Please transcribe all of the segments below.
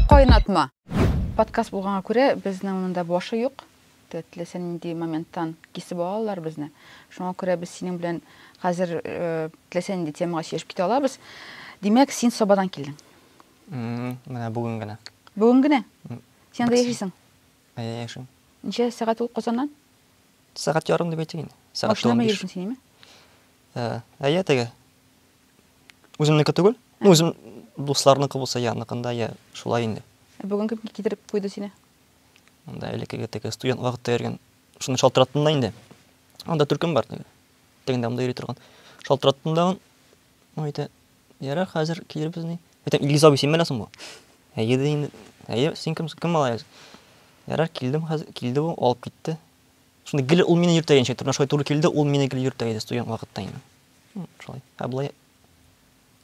Кайнатма. Подкаст булганга күрә, безнең монда башы юк. Теләсә нинди моменттан кисеп алалар безне. Шуңа күрә без синең белән хәзер э, теләсә нинди темага сөйләшеп китә алабыз. Димәк, син Сабадан килдең. М, Менә бүген генә. Бүген генә? Син анда яшисең? Әйе, яшим. Ничә сәгать ул Казаннан? Сәгать ярым дип әйтик инде. Сәгать Машина белән 15. йөрисең син, әйме? Ә, әйе теге. Үземнеке түгел. Ну, үзем дусларныкы булса я аныкында, я шулай инде. Ә бүген кем китереп куйды сине? Анда элеккеге теге студент вакытта йөргән. Шуны шалтыраттым да инде. Анда төркем бар теге. Тегендә монда йөри торган. Шалтыраттым да. Ну, әйтә, ярар, хәзер килербез ни. Әйтә, Илгиз абый, син беләсең бу? Әйе, ди инде. Әйе, син кем, кем малаягыз? Ярар, килдем хәзер, килде бу, алып китте. Шуны гел ул мине йөртә иденчә, торна шулай туры килде, ул мине гел йөртә иде студент вакытта инде. Шулай. Ә болай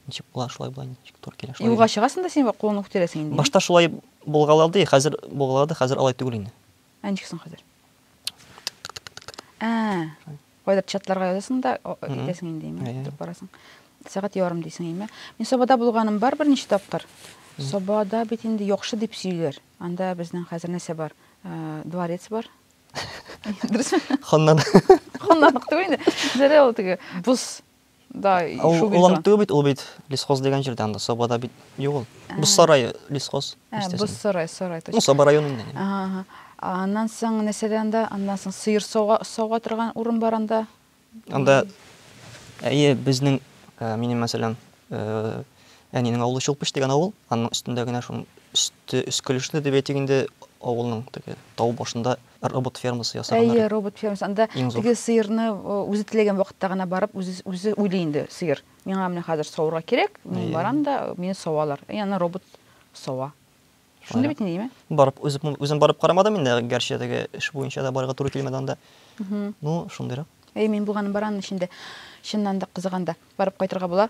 ничек була, шулай була, ничек туры килә. Юлга чыгасың да син бу кулыңны күтәрәсең инде. Башта шулай булгалады, хәзер булгалады, хәзер алай түгел инде. Ә ничек соң хәзер? Ә. Кайдыр чатларга язасың да, итәсең инде, имә, торып барасың. Сәгать ярым дисең, имә. Мин Сабада булганым бар берничә тапкыр. Сабада бит инде яхшы дип сөйлиләр. Анда безнең хәзер нәрсә бар? Дворец бар. Дөресме? Ханнан. Ханнан түгел инде. Зәрә ул теге боз да шул бит. Ул түгел бит, ул бит лесхоз дигән җирдә анда Сабада бит юк ул. Боз сарае лесхоз. Боз сарай, сарай точно. Ну, Саба районында. Ага. Аннан соң нәрсәдә анда? Аннан соң сыер сауга торган урын бар анда. Анда әйе, безнең, э, минем мәсәлән, э, әнинең авылы Чулпыч дигән авыл, аның өстендә генә шуның өсте өскелешле дип әйтик инде, авылның теге тау башында робот фермасы ясаганнар. Әйе, робот фермасы. Анда теге сыерны э, үзе теләгән вакытта гына барып, үзе үзе уйлый инде сыер. Миңа менә хәзер савырга кирәк, мин барам да, мине савалар. И аны робот сава. Шундый бит инде, Барып, үзем, үзем барып карамадым инде, гәрчә теге эш буенча да барырга туры килмәде анда. Ну, шундыйрак. Әй, мин булганым бар аның эчендә. Чыннан да кызыганда барып кайтырга була.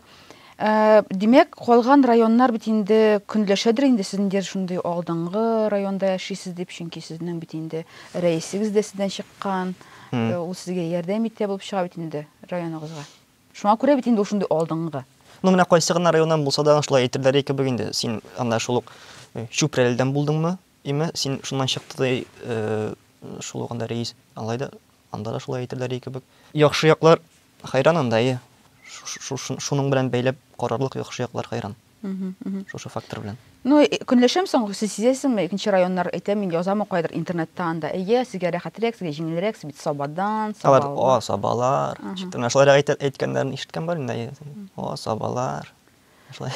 Ә, димәк, калган районнар бит инде көнләшәдер инде сезнең дер шундый алдынгы районда яшисез дип, чөнки сезнең бит инде рәисегез дә сездән чыккан. Э, ул сезгә ярдәм итә булып чыга бит инде районыгызга. Шуңа күрә бит инде ул шундый алдынгы. Ну менә кайсы гына районнан булса да шулай әйтерләре кебек инде, син анда шул ук Чүпрәледән булдыңмы, име, син шуннан чыкты ди, шул ук анда рәис, алай да анда да шулай әйтерләре кебек. Яхшы яклар хайран анда, әйе, шуның белән бәйләп карарлык яхшы яклар хайран. Шушы фактор белән. Ну, э, көнләшәм соң, сез сизәсеңме, икенче районнар әйтә, мин язамы кайдыр интернетта анда. Әйе, сезгә рәхәтрәк, сезгә җиңелрәк, сез бит Сабадан, Сабалар, о, Сабалар. Читтә менә шулай әйтә, әйткәннәрен ишеткән бар инде. О, Сабалар. Шулай.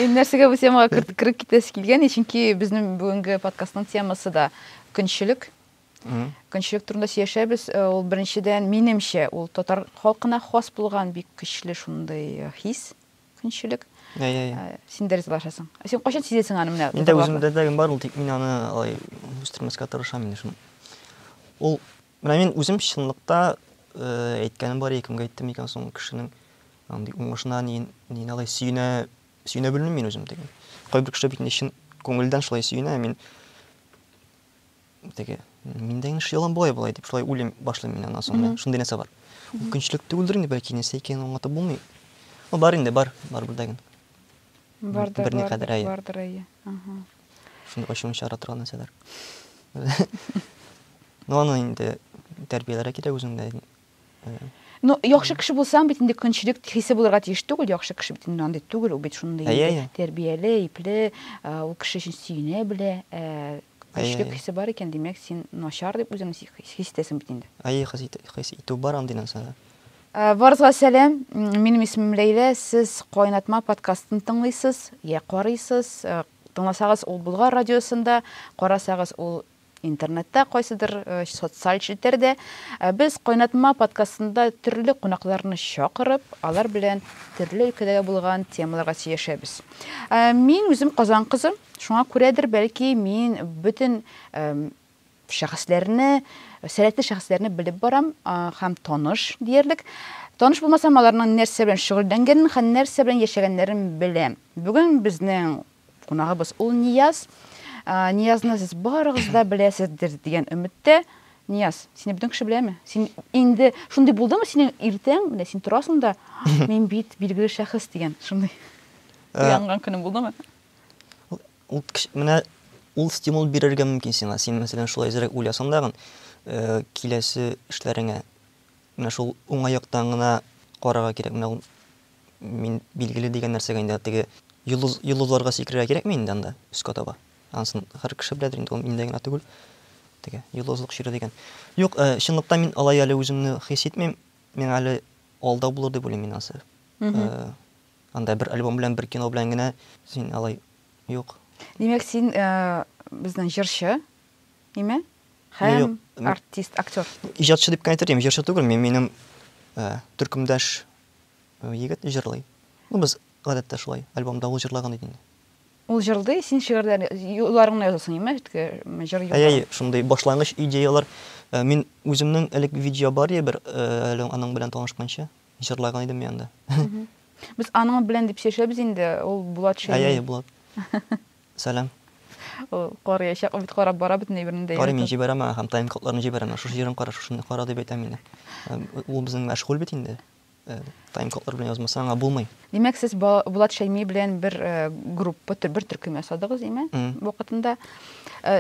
Ин нәрсәгә бу темага кереп китәсе килгән, чөнки безнең бүгенге подкастның темасы да көнчелек. Көнчелек турында сөйләшәбез. Э, ул беренчедән, минемчә, ул татар халкына хас булган бик көчле шундый э, хис. көнчелек. Ә, ә, ә. Син дә ризалашасың. Ә син кайчан сизәсең аны менә? Инде үземдә дә бар ул, тик мин аны алай үстермәскә тырышам инде шуны. Ул менә мин үзем чынлыкта э, әйткәнем бар кемгә әйттем икән соң кешенең андый уңышына ни ни алай сөенә сөенә белмим мин үзем диген. Кайбер кеше бит инде чын күңелдән шулай сөенә, мин Теге, мин дә инеш ялан болай болай дип, шулай уйлыйм, башлыйм мин аннан соң, шундый нәрсә бар. Көнчелек түгелдер инде, бәлки нәрсә икәнен аңлатып булмый. Ну, бар инде, бар, бар да генә. Бар да, бар да, бар да, әйе. Шундый ачуын чыгара торган нәрсәләр. Ну, аны инде тәрбияләргә кирәк үзеңдә. Ну, яхшы кеше булсаң бит инде көнчелек хисе булырга тиеш түгел, яхшы кеше бит инде андый түгел, ул бит шундый инде тәрбияле, ипле, ул кеше өчен сөенә белә, көнчелек хисе бар икән, димәк, син начар дип үзеңне хис итәсең бит инде. Әйе, хис итү бар андый нәрсәдә. Барызга сәлам, минем исемем Ләйлә, сез Кайнатма подкастын тыңлыйсыз, я карыйсыз, тыңласагыз ул Болгар радиосында, карасагыз ул Интернетта, кайсыдыр социаль челтәрдә без Кайнатма подкастында төрле кунакларны чакырып, алар белән төрле өлкәдәге булган темаларга сөйләшәбез. Мин үзем Казан кызы, шуңа күрәдер, бәлки, мин бөтен шәхесләрне, сәләтле шәхесләрне белеп барам һәм таныш диярлек. Таныш булмасам, аларның нәрсә белән шөгыльләнгәнен һәм нәрсә белән яшәгәннәрен беләм. Бүген безнең Кунагыбыз ул Нияз. Ниязны сез барыгыз да беләсездер дигән өметтә. Нияз, сине бөтен кеше беләме? Син инде шундый булдымы синең иртәң, менә син торасың да, мин бит билгеле шәхес дигән шундый э, уянган көнең булдымы? Ул менә ул стимул бирергә мөмкин сиңа. Син мәсәлән шулай зирәк уйласаң дагын, э, киләсе эшләреңә менә шул уңай яктан гына карарга кирәк. Менә ул мин билгеле дигән нәрсәгә инде теге йолдыз, йолдызларга сикерергә кирәкме инде анда өскә таба? Ансын һәр кеше беләдер инде, ул миндә генә түгел. Теге йолдызлык чире дигән. Юк, э, чынлыкта мин алай әле үземне хис итмим. Миңа әле алда булыр дип уйлыйм мин ансы. Э, анда бер альбом белән, бер кино белән генә син алай юк. Димәк, син э, безнең җырчы, име? Һәм Юк, м- артист, актер. Иҗатчы дип кенә әйтер идем, җырчы түгел мин, минем э, төркемдәш Егет җырлый. Ну без, гадәттә, шулай, альбомда ул җырлаган иде инде. Ул җырлый, син шигырьләр, юлларыңны язасың, имеш, теге җыр юлларын. Әй, әй, шундый башлангыч идеялар. Мин үземнең элек видео бар иде бер, әле аның белән танышканчы, җырлаган идем мин анда. Без аның белән дип сөйләшәбез инде, ул Булат Шәймиев. Әй, әй, Булат. Сәлам. Ул карыячак, ул бит карап бара бөтен әйберне дә. Карыйм, мин җибәрәм аңа һәм тайм-кодларны җибәрәм аңа. Шушы җирен кара, шушыны кара дип әйтәм инде. Ул безнең мәшгуль бит инде. Тайм-кодлар белән язмаса аңа булмый. Димәк, сез Булат Шәйми белән бер группа, бер төркем ясадыгыз, димә, вакытында.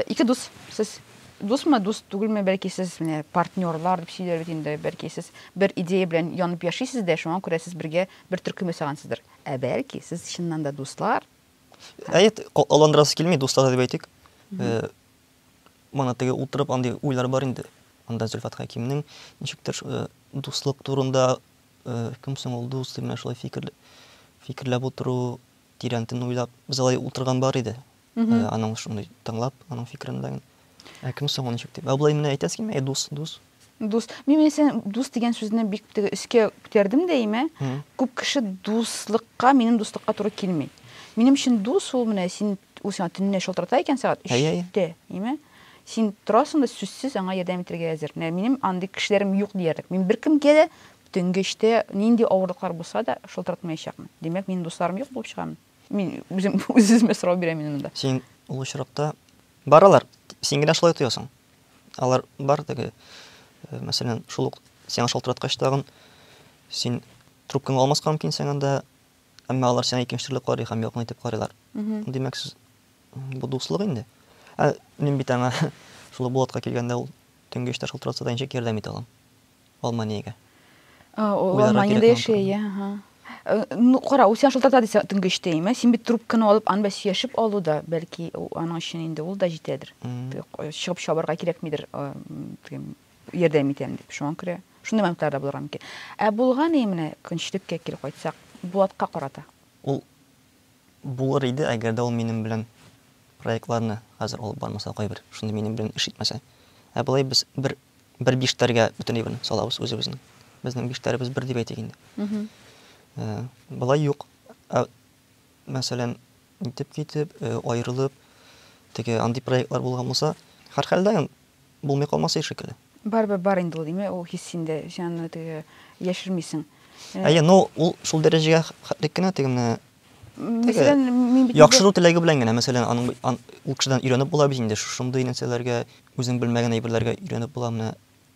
Ике дус, сез дусмы, дус түгелме, бәлки сез менә партнерлар дип сөйләр бит инде, бәлки сез бер идея белән янып яшисез дә, шуңа күрә сез бергә бер төркем ясагансыздыр. Ә бәлки сез чыннан да дуслар, Әйт, аландырасы килми, дуслар дип әйтик. Э, Мана теге утырып андый уйлар бар инде. Анда Зөлфат Хәкимнең ничектер э, дуслык турында э, кем соң ул дус дип менә шулай фикер фикерләп утыру, тирәнтен уйлап, без алай утырган бар иде. Э, аның шундый тыңлап, аның фикерен ләгин. Ә кем соң ул ничек дип? Ә болай менә әйтәсе килми, әй дус, дус. Дус. Мин менә сен дус дигән сүзне бик теге өскә күтәрдем дә имә. Күп кеше дуслыкка, минем дуслыкка туры килми. Минем өчен дус ул менә син ул сиңа төнлә шалтырата икән сәгать 3-тә, имә. Син торасың да сүзсез аңа ярдәм итәргә әзер. Менә минем андый кешеләрем юк диярлек. Мин беркемгә дә төнге 3-тә нинди авырлыклар булса да шалтыратмаячакмын. Димәк, минем дусларым юк булып чыгамы? Мин үзем үземә сорау бирәм мин монда. Син ул очракта баралар, син генә шулай тоясың. Алар бар теге, э, мәсәлән, шул ук сиңа шалтыраткач тагын син трубкаңа алмаска мөмкин сиңа да, әмма алар сиңа икенче төрле карый һәм якын итеп карыйлар. Димәк, сез бу дуслык инде. Ә мин бит аңа шул Булатка килгәндә ул төнге эштә шалтыратса да ничек ярдәм итә алам? Алманиягә. Э, ул Уйларга Алманиядә кирәк яши, моңа. иә, ага. Э, Ну, кара, ул сиңа шылтырата дисә төнге өчтә име? Син бит трубканы алып, аны бәс сөйләшеп алу да, бәлки, у- аның өчен инде ул да җитәдер. Мгм. Теге к- Чыгып чабарга кирәкмидер, э, м, теге ярдәм итәм дип. Шуңа күрә шундый моментлар да булырга мөмкин. Ә булган и менә көнчелеккә кире кайтсак, Булатка карата. Ул булыр иде, әгәр дә ул минем белән проектларны хәзер алып бармаса, кайбер шундый минем белән эш итмәсә. Ә болай без бер Бер биштәргә бөтен әйберне салабыз үзебезнең. Безнең биштәребез бер дип әйтик инде. Э, Болай юк. Ә, Мәсәлән, итеп китеп, э, аерылып, теге андый проектлар булган булса, һәрхәлдә ям- булмый калмаса шикелле. Барыбер бар инде ул, димә, ул хис инде, син аны теге яшермисең. Э, Әйе, но ул шул дәрәҗәгә хәтлек кенә теге менә Мәсәлән, мин бит яхшыру теләге белән генә, мәсәлән, аның ан, ул кешедән өйрәнеп була бит инде, шушындый нәрсәләргә, үзең белмәгән әйберләргә өйрәнеп була, менә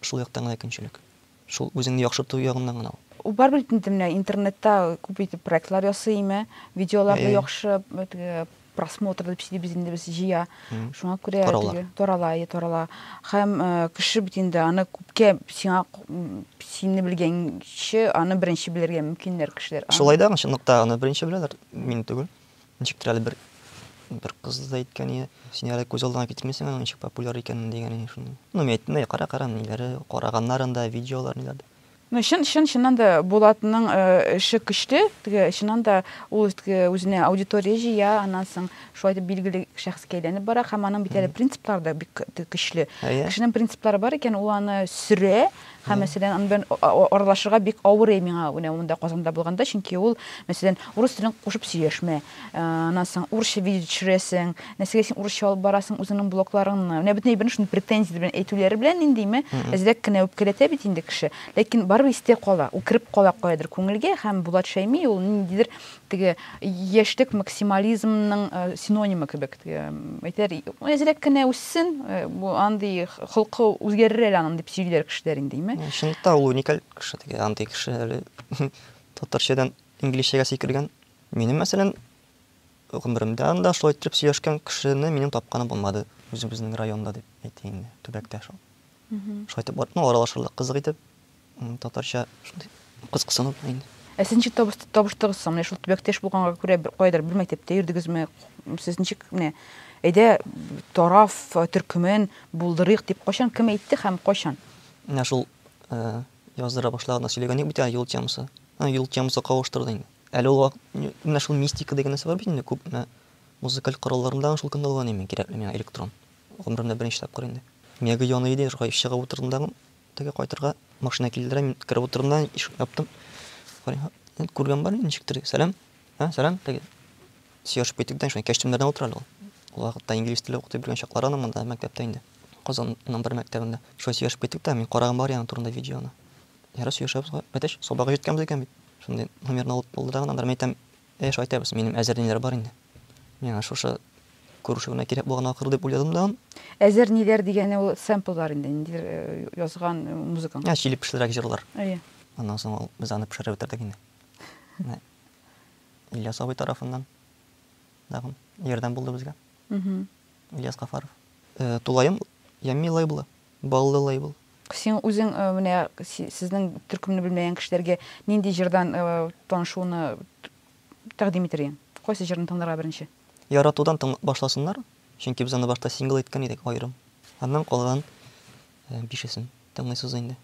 шул яктан гына көнчелек. Шул үзеңне яхшырту ягыннан гына ул. Ул барыбер инде менә интернетта күп итеп проектлар ясый име, видеоларны яхшы просмотр дип сөйлибез инде без җыя. Шуңа күрә теге тарала, е тарала. Хәм кеше бит инде аны күпкә сиңа синне белгәнче аны беренче белергә мөмкиннәр кешеләр. Шулай да чынлыкта аны беренче беләләр, мин түгел. Ничектер әле бер бер кыз да әйткән иде, син әле күз алдына китермисең аның ничек популяр икәнен дигән иде шуны. Ну, мин әйттем дә, кара, кара, ниләре, караганнарын да, видеолар ниләр дә. Ну чын чын чыннан да Булатның эше көчле, теге чыннан да ул теге үзенә аудитория җыя, аннан соң шулай итеп билгеле шәхескә әйләнеп бара һәм аның бит әле принциплары да бик көчле. Кешенең принциплары бар икән, ул аны сөрә һәм мәсәлән аны белән аралашырга бик авырый миңа менә монда Казанда булганда, чөнки ул мәсәлән урыс телен кушып сөйләшмә, Аннан соң урысча видео төшерәсең, нәрсәгә син урысча алып барасың үзеңнең блокларыңны. Менә бөтен әйберне шундый претензия белән әйтүләре белән ниндиме, әзрәк кенә үпкәләтә бит инде кеше. Ләкин барыбер истә кала, ул кереп кала каядыр күңелгә һәм Булат Шәйми ул ниндидер теге яшьлек максимализмның синонимы кебек. Әйтәр, әзрәк кенә үссен, бу андый холкы үзгәрер әле аның дип сөйлиләр кешеләр индиме. Чынлыкта ул уникаль кеше, теге андый кеше әле татарчадан инглизчәгә сикергән. Минем, мәсәлән, гомеремдә анда шулай иттереп сөйләшкән кешене минем тапканым булмады, үзебезнең районда дип әйтәйин инде, төбәктә шул. Шулай итеп барып, ну, аралашырлык кызык итеп, татарча шундый кыз кысынып була инде. Ә сез ничек табыштыгыз соң? Менә шул төбәктә эш булганга күрә бер кайдыр бер мәктәптә йөрдегезме? Сез ничек менә әйдә тараф төркемен булдырыйк дип кайчан кем әйтте һәм кайчан? Менә шул яздыра башлаганда сөйләгән идек бит әле юл темасы. Юл темасы кавыштырды инде. Әле ул вак менә шул мистика дигән нәрсә бар бит инде, күп менә музыкаль коралларымда шул көнне алган идем мин кирәкле миңа электрон. Гомеремдә беренче тапкыр инде. Миягү яный иде, шулай чыгып утырдым да теге кайтырга машина килдерә, мин кереп утырдым да ишекне яптым. Карыйм, күргән бар ничектер, сәлам, ә, сәлам, теге сөйләшеп киттек дә, шулай кәчтүмнәрдән утыра әле ул. Ул вакытта инглиз теле укытып йөргән чаклары аның монда мәктәптә инде. Казанның бер мәктәбендә. Шулай сөйләшеп киттек тә, мин караган бар яны турында видеоны. Ярый сөйләшәбез гә, әтәч, сабагы җиткән безгә бит. Шундый номерны алып булды да гынадыр. Мин әйтәм, әйе, шулай әйтәбез, минем әзерниләр бар инде. Миңа шушы күрешү генә кирәк булган ахры дип уйладым да. Әзерниләр дигәне ул сэмпллар инде, ниндидер язган музыкаң. Ә, чиле пешлерәк җырлар. Әйе. Аннан соң ул, без аны пешереп бетердек инде. Менә Ильяс абый тарафыннан тагын ярдәм булды безгә. Ильяс Гафаров. Тулаем Ямми лейблы. Баллы лейбл. Син үзең менә сезнең төркемне белмәгән кешеләргә нинди җырдан танышуны тәкъдим итер идең? Кайсы җырны тыңларга беренче? Яратудан тыңлап башласыннар, чөнки без аны башта сингл иткән идек аерым. Аннан калган бишесен тыңлыйсыз инде.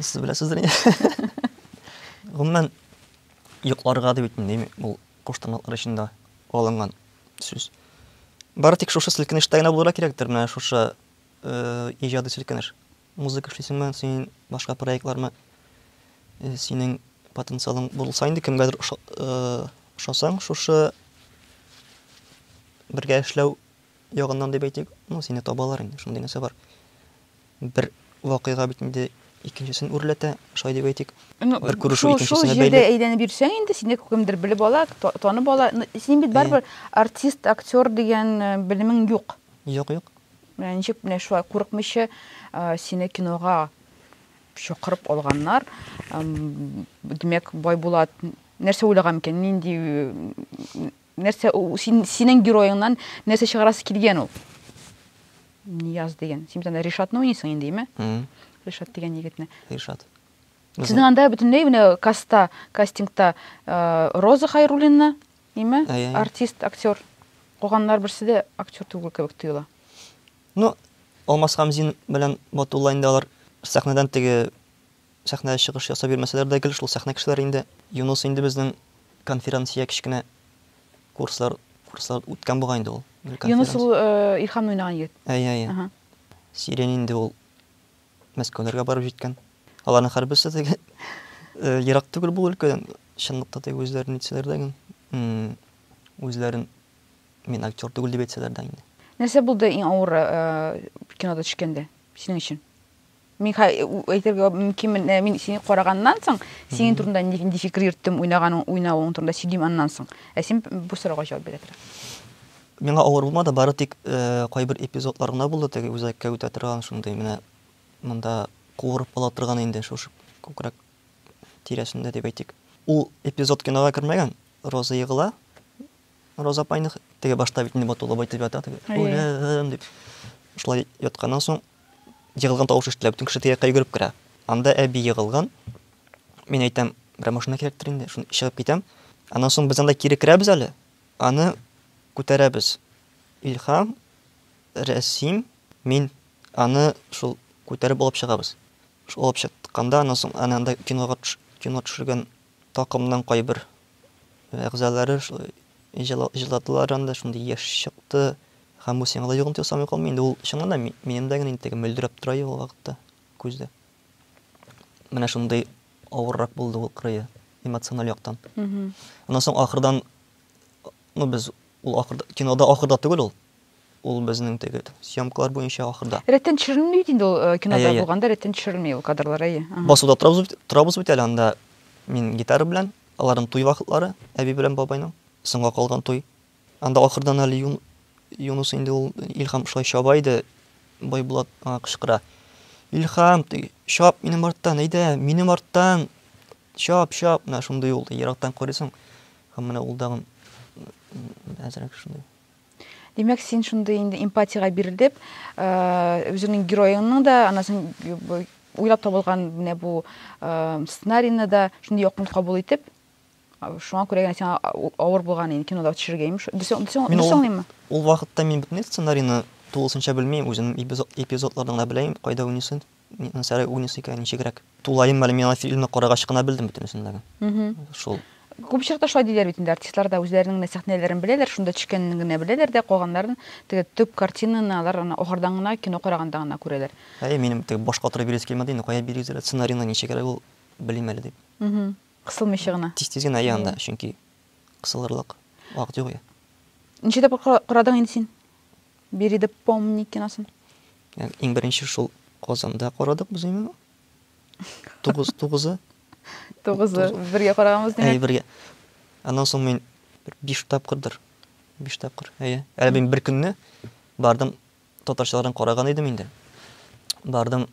Сез беләсездер инде. Гомумән, йокларга дип үтмим, дим, ул куштанлыклар эчендә алынган сүз. Бары тик шушы селкенештә генә булырга кирәктер, менә шушы э, иҗади селкенеш. Музыка эшлисеңме, син башка проектлармы? Э, синең потенциалың булса инде кемгәдер э, ошасаң, шушы бергә эшләү ягыннан дип әйтик, ну, сине табалар инде, шундый нәрсә бар. Бер вакыйга бит инде икенчесен үрләтә, шулай дип әйтик. Ну, Бер күрешү шул, шул икенчесенә җирдә бәйле. әйләнеп йөрсәң инде, сине кемдер белеп ала, та- танып ала. Ну, Син бит барыбер артист, актер дигән э, белемең юк. Юк, юк. Менә ничек менә шулай курыкмыйча э, сине кинога чакырып алганнар. Эм, Димәк, Байбулат нәрсә уйлаган микән? Нинди э, Нәрсә ул син, синең героеңнан нәрсә чыгарасы килгән ул? Нияз дигән. Син бит анда Ришатны уйныйсың инде, име? Ришат дигән егетне. Ришат. Сезнең анда бөтенләй менә каста, кастингта э, Роза Хайруллина, име? Артист, актер. Калганнар берсе дә актер түгел кебек тоела. Ну, Алмас Хамзин белән Батулла инде алар сәхнәдән теге Сәхнәдә чыгыш ясап йөрмәсәләр дә гел шул сәхнә кешеләре инде. Юныс инде безнең конферансия кечкенә курслар курслар үткән бугай инде ул. Юныс ул Илхамны уйнаган егет. Әйе, әйе. Сирень инде ул Мәскәүләргә барып җиткән. Аларның һәрберсе теге ерак түгел бу өлкәдән. Чынлыкта теге үзләрен нитсәләр дә инде, үзләрен мин актер түгел дип әйтсәләр дә инде. Нәрсә булды иң авыры кинода төшкәндә синең өчен? Мин әйтергә мөмкин, мин сине караганнан соң, синең турында нинди фикер йөрттем, уйнаганың, уйнавың турында сөйлим аннан соң. Ә син бу сорауга җавап бирә тора. Миңа авыр булмады, бары тик э, кайбер эпизодлар гына булды, теге үзәккә үтә торган шундый менә монда куырып ала торган инде шушы күкрәк тирәсендә дип әйтик. Ул эпизод кинога кермәгән. Роза егыла. Роза апайны теге башта бит инде батулы байтып ята теге. Үлем дип. Шулай ятканнан соң егылган тавыш ишетелә, бөтен кеше тирәккә йөгереп керә. Анда әби егылган. Мин әйтәм, бер машина кирәктер инде, шуны чыгып китәм. Аннан соң без анда кире керәбез әле, аны күтәрәбез. Илһам, Рәсим, мин аны шул күтәреп алып чыгабыз. Шул алып чыкканда, аннан соң аны анда кинога кино төшергән такымның кайбер әгъзалары шулай җыладылар анда, шундый яшь чыкты, Һәм бу сиңа да йогынты ясамый калмый инде, ул, чыннан да, минем дә генә инде теге мөлдерәп тора иде ул вакытта күздә. Менә шундый авыррак булды ул кырые, эмоциональ яктан. Аннан соң ахырдан, ну, без ул ахырда, кинода ахырда түгел ул, ул безнең теге съемкалар буенча ахырда. Рәттән төшерелми бит инде ул э, кинода булганда рәттән төшерелми ул кадрлар, әйе. Басуда торабыз бит әле анда мин гитара белән, аларның туй вакытлары, әби белән бабайның, соңга калган туй. Анда ахырдан әле Юн, Юнус инде ул, Илһам шулай чаба иде, Байбулат аңа кычкыра. Илһам, теге, чап минем арттан, әйдә, минем арттан, чап, чап, менә шундый ул, ерактан карыйсың, һәм менә ул дагын әзрәк шундый. Димәк, син шундый инде эмпатиягә бирелеп, үзеңнең героеңның да, аннан соң уйлап табылган менә бу сценарийны да шундый якын кабул итеп, шуңа күрә генә сиңа авыр булган инде кинода төшергә имеш дөресеңлиме ул вакытта мин бөтен сценарийны тулысынча белмим үзем эпизодларны гына беләм кайда уйныйсы нәрсәләр уйныйсы икән ничегрәк тулаем әле мин аны фильмны карагач кына белдем бөтенесен дә шул күп очракта шулай диләр бит инде артистлар да үзләренең генә сәхнәләрен беләләр шунда төшкәнен генә беләләр дә калганнарын теге төп картинаны алар аны ахырдан гына кино караганда гына күрәләр әйе минем теге башка утырып бирәсе килмәде инде кая бирегез әле сценарийны ничегрәк ул белим әле дип Кысылмыйча гына. Тиз-тиз генә йый анда, чөнки кысылырлык вакыт юк я. Ничә тапкыр карадың инде син? Бери да помни киносын. Иң беренче шул Казанда карадык без именно. Тугыз, тугызы. Тугызы. Бергә караганбыз димәк. Әй, бергә. Аннан соң мин бер биш тапкырдыр. Биш тапкыр. Әйе. Әле мин бер көнне бардым татарчаларын караган идем инде. Бардым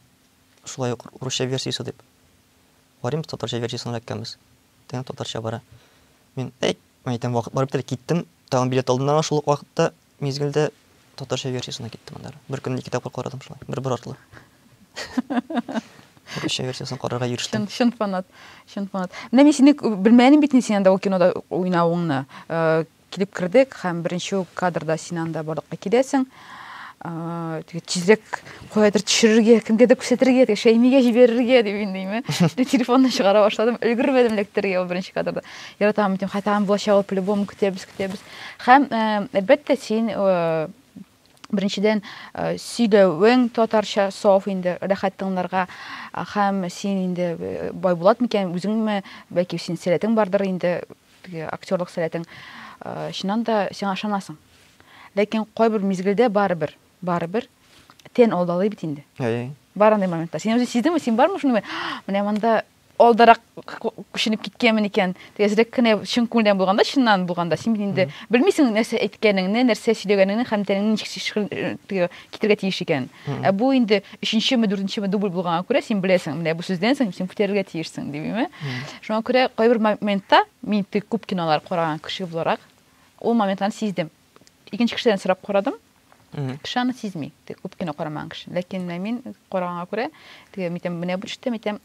шулай ук русча версиясе дип. Барыйм да татарча версиясен эләккәнбез. Тәмам татарча бара. Мин, әй, мәйтәм, вакыт барып бетәр, киттем. Тагын билет алдым да шул ук вакытта, мизгелдә татарча версиясенә киттем аннары. Бер көнне ике тапкыр карадым шулай, бер-бер артлы. Татарча версиясен карарга ирештем. Чын, чын фанат, чын фанат. Менә мин сине белмәдем бит, син анда ул кинода уйнавыңны. Килеп кердек һәм беренче үк кадрда син анда барлыкка киләсең. Теге тизлек каядыр төшерергә, кемгәдер күрсәтергә, теге Шәймигә җибәрергә дип индеме. Мин телефонны чыгара башладым, өлгермәдем эләктерергә ул беренче кадрда. Яратам дим, хәтам булачак ул по-любому көтәбез, көтәбез. Һәм әлбәттә син Беренчедән, э, сөйләвең татарча саф инде, рәхәт тыңларга. Һәм син инде э, Байбулат микән, үзеңме, бәлки син сәләтең бардыр инде, теге актерлык сәләтең. Э, чыннан да сиңа ышанасың. Ләкин кайбер мизгелдә барыбер, барыбер тен алдалый бит инде. Әй. Бар андый моментлар. Син үзең сиздеңме, син бармы шундый? Менә монда алдарак күченеп киткәнмен икән, тәзрәк кенә чын күңелдән булганда, чыннан булганда, син бит инде белмисең нәрсә әйткәнеңне, нәрсә сөйләгәнеңне һәм тәнеңне ничек китергә тиеш икән. Ә бу инде өченчеме, дүртенчеме дубль булганга күрә син беләсең, менә бу сүздән соң син күтәрергә тиешсең, димиме? Шуңа күрә кайбер моментта мин теге күп кинолар караган кеше буларак, ул моментларны сиздем. икенче кешедән сорап карадым кеше аны сизми күп кино карамаган кеше ләкин менә мин караганга күрә теге әйтәм менә бу төштәм әйтәм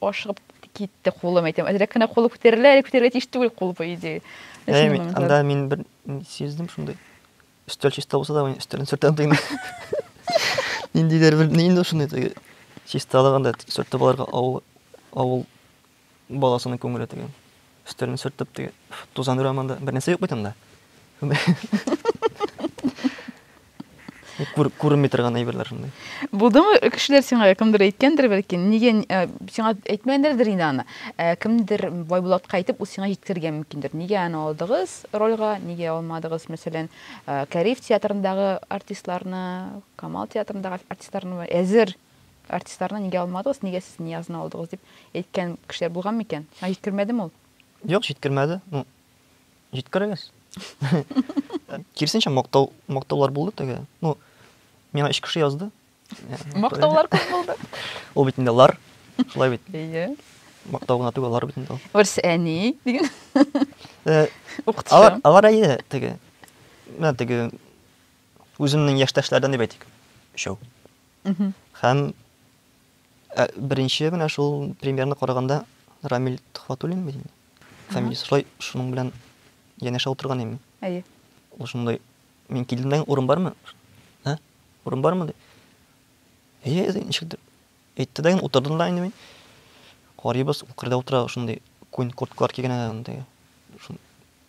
ашыгып китте кулым әйтәм әзрәк кенә кулы күтәрелә әле күтәрелә тиеш түгел кул по идее анда мин бер сиздем шундый өстәл чиста булса да мин өстәлен сөртәм тыйны ниндидер бер инде шундый теге чисталык анда сөртеп алырга авыл авыл Баласының күңеле теге. Өстәлен сөртеп теге. Тузан өрә монда. Бер нәрсә юк бит анда. Күр, күренми торган әйберләр шундый. Булдымы кешеләр сиңа кемдер әйткәндер бәлки, нигә э, сиңа әйтмәгәндер инде аны. Э, кемдер Байбулатка әйтеп, ул сиңа җиткергән мөмкиндер. Нигә аны алдыгыз рольга, нигә алмадыгыз, мәсәлән, э, Кәриф театрындагы артистларны, Камал театрындагы артистларны әзер Артистларны нигә алмадыгыз, нигә сез Ниязны алдыгыз дип әйткән кешеләр булган микән? Аңа җиткермәдеме ул? Юк, җиткермәде. Ну, җиткерегез. Киресенчә, мактау, мактаулар булды теге. Ну, миңа өч кеше язды. Мактаулар күп булды. Ул бит инде лар, шулай бит. Әйе. Мактау гына түгел, лар бит инде ул. Урыс әни диген. Э, Укытучы. Алар, алар әйе теге. Менә теге үземнең яшьтәшләрдән дип әйтик. Өчәү. Һәм ә, беренче менә шул премьерны караганда Рамил Төхватуллин бит инде. Фамилиясе шулай шуның белән янәшә утырган иде. Әйе. Ул шундай мин килдемдән урын бармы? Ә? Урын бармы? ди. Әйе, әйе, ничек дип. Әйтте дә инде утырдым да инде мин. Карыйбыз, ул кырда утыра, шундый күн курткалар кигән анда.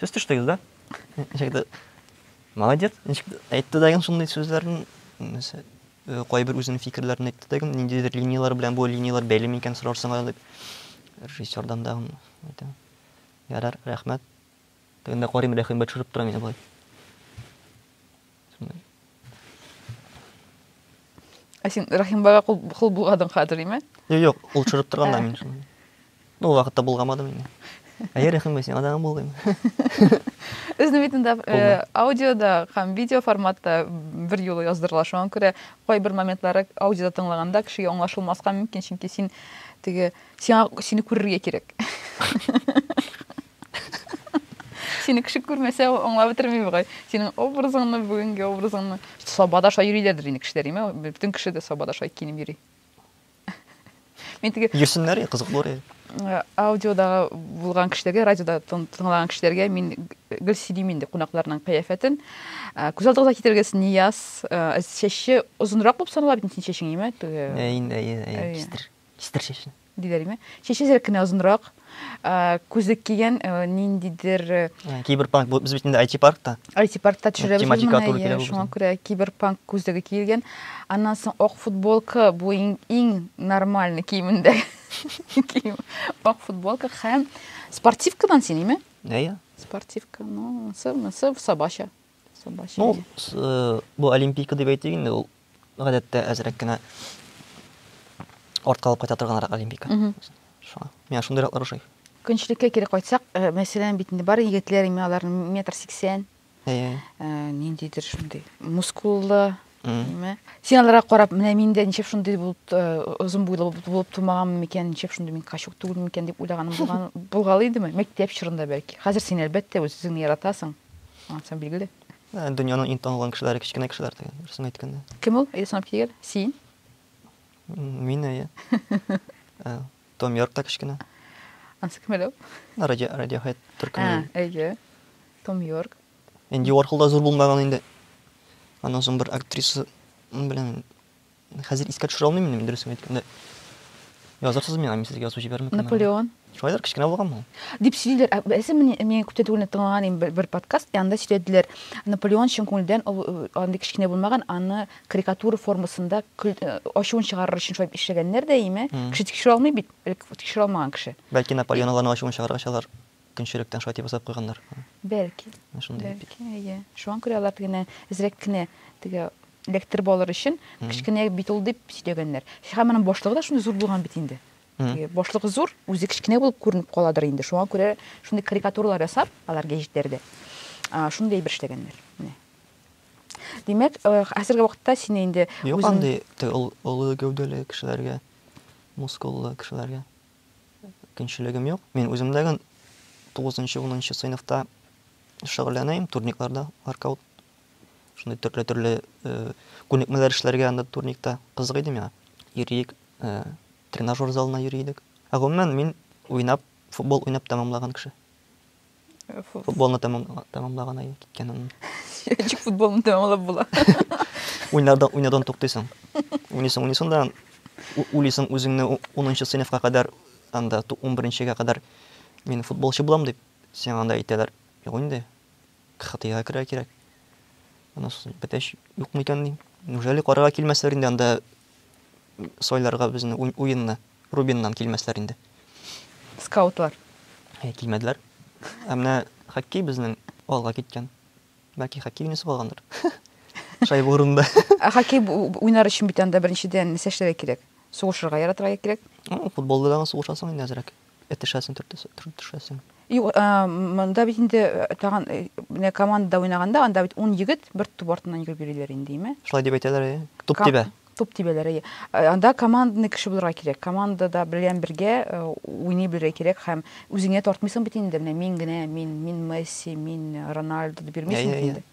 Сез төштегез да? Ничектер. Молодец. Ничектер. Әйтте дә шундый сүзләрне. Э, кайбер үзенең фикерләрен әйтте дә, ниндидер линияләр белән бу линияләр бәйле микән сорарсың әле дип. Режиссердан да әйтә. Ярар, рәхмәт. Тегендә карыйм, рәхимгә төшереп тора мине болай. сондай ә син рәхимбайга кол, кол булгадың хәзер име юк юк ул төшереп торган да мин шуны ну ул вакытта булгамадым инде әйе рәхимбай сиңа да булгыйм Үзне бит инде э, аудиода һәм видео форматта бер юлы яздырыла. Шуңа күрә кайбер моментлары аудиода тыңлаганда кешегә аңлашылмаска мөмкин, чөнки син теге сиңа сине күрергә кирәк. Сине кеше күрмәсә, ул аңлап бетерми бугай. Синең образыңны, бүгенге образыңны. Сабада шулай йөриләрдер инде кешеләр, име? Бөтен кеше дә сабада шулай киенеп йөри. Мин теге Йөрсеннәр, кызыклы ре. Э, аудиодагы булган кешеләргә, радиода тыңлаган кешеләргә мин гел сөйлим инде кунакларның кыяфәтен. Э, күз алдыгызга китергез, Нияз, э, чәче озынрак булып санала бит синең чәчең, име? Әйе, әйе, әйе, чистер. Чистер чәчен. Диде Алимә. Чәче сирәк кенә озынрак, күзлек кигән, ниндидер... Киберпанк, без бит инде IT-паркта. IT-паркта төшерәбез моны, шуңа күрә киберпанк күзлеге киелгән. Аннан соң ак футболка, бу иң нормальный киемендә. Ак футболка һәм спортивкадан син, име? Әйе. Спортивка, ну, монысы, монысы сабача. Сабача. Ну, бу олимпийка дип әйтик инде, ул гадәттә әзрәк кенә артка алып кайта торганрак олимпика шуңа миңа шундыйраклар ошый көнчелеккә кире кайтсак э, мәсәлән бит инде бар егетләр инде алар метр сиксән э, ниндидер шундый мускуллы син аларга карап менә мин дә ничек шундый булып э, озын буйлы булып тумаганмын микән ничек шундый мин качук түгелме микән дип уйлаганым булган булгалый идеме мәктәп чорында бәлки хәзер син әлбәттә үз үзеңне яратасың ансам билгеле Дөньяның иң танылган кешеләре, кечкенә кешеләр дигән, дөресен әйткәндә. Кем ул? Ясанып килгән. Син? Мин, әйе. Ә, Том Йорк та кечкенә. Ансы кем әле ул? Ә, Радио, Radiohead Ә, төркеме. әйе. Том Йорк. Энди Уорхол да зур булмаган инде. Аннан соң бер актриса белән Хәзер искә төшерә алмыйм инде, дөресен әйткәндә. Язырсыз миңа, мин сезгә язу җибәрмим. Наполеон. Шулайдыр, кечкенә булган ул. Дип сөйлиләр. Ә беләсең, мин мин күптән түгел тыңлаган идем бер подкаст, янда сөйләделәр. Наполеон чын күңелдән ул э, андый кечкенә булмаган, аны карикатура формасында э, ачуын чыгарыр өчен шулай эшләгәннәр дә име? Кеше тикшерә алмый бит, тикшерә алмаган кеше. Бәлки Наполеон аларны ачуын чыгаргач алар Көнчелектән шулай дип ясап куйганнар. Бәлки. Менә шундый бит. Бәлки, әйе. Шуңа күрә алар тегене әзрәк кенә теге электр балыр өчен кечкенә бит ул дип сөйләгәннәр. Һәм аның башлыгы да шундый зур булган бит инде. Теге башлыгы зур, үзе кечкенә булып күренеп каладыр инде. Шуңа күрә шундый карикатуралар ясап, алар гәҗитләрдә шундый әйбер эшләгәннәр. Менә. Димәк, э, хәзерге вакытта сине инде Юк, андый олы гәүдәле кешеләргә, мускуллы кешеләргә. мөмкинчелегем юк. Мин үземдәген 9-10 сыйныфта шөгыльләнәем, турникларда, воркаут. Шундый төрле-төрле э, күнекмәләр эшләргә анда турникта кызык иде миңа. Йөрик, э, тренажер залына йөри идек. Ә гомумән мин уйнап, футбол уйнап тәмамлаган кеше. Футболны тәмамлаган ай киткән анын. Ничек футболны тәмамлап була? Уйнадан, уйнадан туктыйсың. Уйныйсың, уйныйсың да уйлыйсың үзеңне 10нчы сыйныфка кадәр, анда 11нчегә кадәр мин футболчы булам дип, сиңа анда әйтәләр. Юк инде. КХТга керә кирәк. Аны бетәч юк микән ди. Неужели карарга килмәсләр инде анда сайларга безне уенны? Рубиннан килмәсләр инде. Скаутлар. Әйе, килмәделәр. Ә менә хоккей безнең алга киткән. Бәлки хоккей уйныйсы калгандыр. Шайба урынында. Ә хоккей уйнар өчен бит анда беренчедән нәрсә эшләргә кирәк? Сугышырга яратырга кирәк. Футболда да сугышасың инде әзрәк. Этешәсең, төртешәсең. Юк, монда бит инде тагын менә командада уйнаганда, анда бит 10 егет бер туп артыннан йөреп йөриләр инде, име? Шулай дип әйтәләр, әйе. Туп тибә. Туп тибәләр, әйе. Э, анда командный кеше булырга кирәк. Командада белән бергә э, уйный белергә кирәк һәм үзеңә тартмыйсың бит инде. Менә мин генә, мин, мин Месси, мин Рональдо дип йөрмисең бит инде.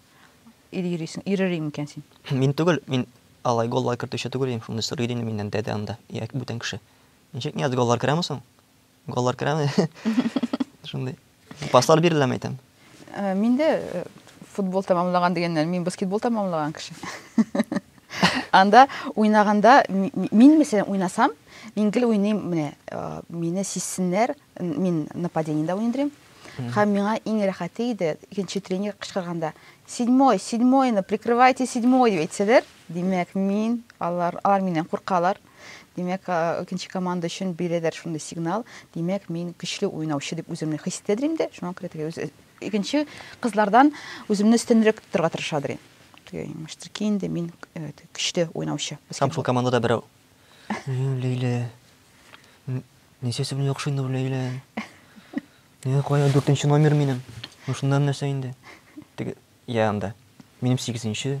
Ир йөрисең, ирер икән син. Мин түгел, мин алай голлар кертүче түгел идем, шуны сорый идем миннән дәдә анда, яки бүтән кеше. Ничек Нияз голлар керәме соң? Голлар керәме? Шундый. Паслар биреләме әйтәм? Э, мин дә э, футбол тәмамлаган дигәннәр, мин баскетбол тәмамлаган кеше. Анда уйнаганда мин мәсәлән уйнасам, мин гел уйныйм, менә э, мине сизсеннәр, мин нападениедә уйныйм. Һәм миңа иң рәхәте иде, икенче тренер кычкырганда, "Седьмой, седьмойны прикрывайте седьмой" дип әйтсәләр, димәк, мин алар алар миннән куркалар. Димәк, икенче команда өчен бирәләр шундый сигнал. Димәк, мин көчле уйнаучы дип үземне хис итәдер инде. Шуңа күрә теге үз икенче кызлардан үземне өстенрәк тотарга тырышадыр инде. Теге имештер ки инде мин э, көчле уйнаучы. Һәм шул командада берәү. Ләйлә. Нәрсәсе белән яхшы инде бу Ләйлә? Нигә кая дүртенче номер минем? Ну шунда нәрсә инде? Теге я анда. Минем сигезенче,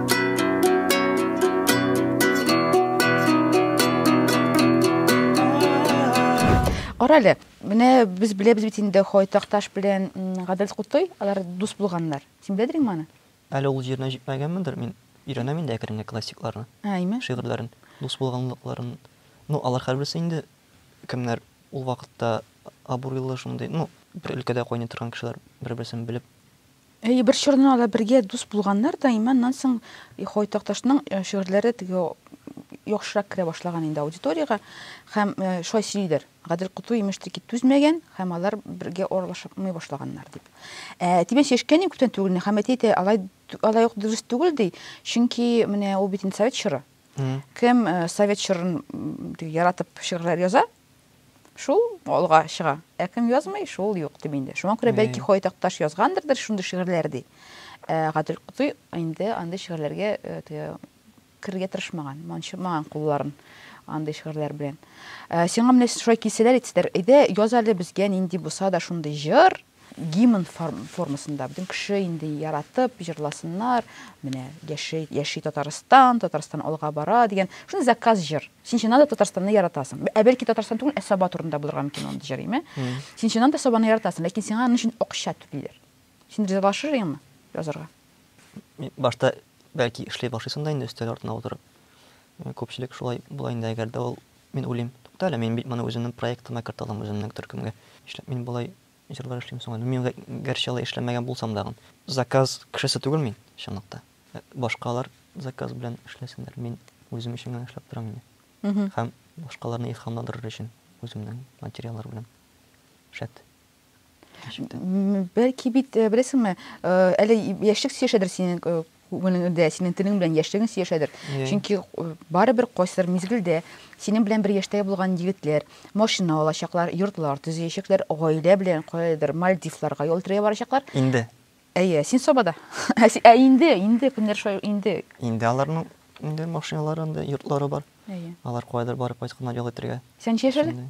Кара әле, менә без беләбез бит инде Хойтакташ белән Гадел Кутой, алар дус булганнар. Син беләдереңме моны? Әле ул җиренә җитмәгәнмендер, мин өйрәнәм инде әкренле классикларны. Әйме? Шигырьләрен, дус булганлыкларын. Ну, алар һәрберсе инде кемнәр ул вакытта абруйлы шундый, ну, бер өлкәдә кайный торган кешеләр бер-берсен белеп Әйе, бер чорны алар бергә дус булганнар да, имән, аннан соң Хой Такташның шигырьләре теге яхшырак керә башлаган инде аудиториягә һәм шулай сөйлиләр. Гадел Коту имеш тик түзмәгән һәм алар бергә аралашмый башлаганнар дип. Ә тибен сөйләшкән күптән түгел һәм әти әйтә, алай алай ук дөрес түгел ди, чөнки менә ул бит инде совет чоры. Кем совет чорын яратып шигырьләр яза, Шул алга чыга. Ә кем язмый, шул юк дип инде. Шуңа күрә бәлки Ходай Такташ язгандырдыр шундый шигырьләр ди. Ә Гадел Котый инде андый шигырьләргә теге керергә тырышмаган, манчымаган кулларын андый шигырьләр белән. Сиңа менә шулай килсәләр әйтсәләр, әйдә яз әле безгә нинди булса да шундый җыр, гимн формасында бөтен кеше инде яратып җырласыннар, менә яши, яши Татарстан, Татарстан алга бара дигән шундый заказ җыр. Син чыннан да Татарстанны яратасың. Ә бәлки Татарстан түгел, ә Саба турында булырга мөмкин ул җырыйме? Син чыннан да Сабаны яратасың, ләкин сиңа аның өчен акча түлиләр. Син ризалашыр идеңме язарга? Башта бәлки эшли башлыйсың да инде өстәл артына утырып. Күпчелек шулай була инде, әгәр дә ул Мин уйлыйм, тукта әле, мин бит моны үземнең проектыма кертә алам, үземнең төркемгә. Нишләп мин болай җырлар эшлим соң әле? Мин гәрчә алай эшләмәгән булсам дагын. Заказ кешесе түгел мин, чынлыкта. Башкалар заказ белән эшләсеннәр, мин үзем өчен генә эшләп торам инде. Һәм башкаларны илһамландырыр өчен үземнең материаллар белән. Шәт. Бәлки бит, э, беләсеңме, э, әле яшьлек сөешәдер синең э, күңелеңдә, синең телең белән яшьлегең сөешәдер. Иә. Чөнки э, барыбер кайсыдыр мизгелдә синең белән бер яшьтәге булган егетләр машина алачаклар, йортлар төзеячәкләр, гаилә белән каядыр Мальдивларга ял итәргә барачаклар. Инде. Әйе, син собада. Ә си- Ә инде, инде көннәр шулай инде. Инде аларның инде машиналары, инде йортлары бар. Әйе. Алар кайдыр барып кайтканнар ял итәргә. Сәнчә яшәде? Шундый.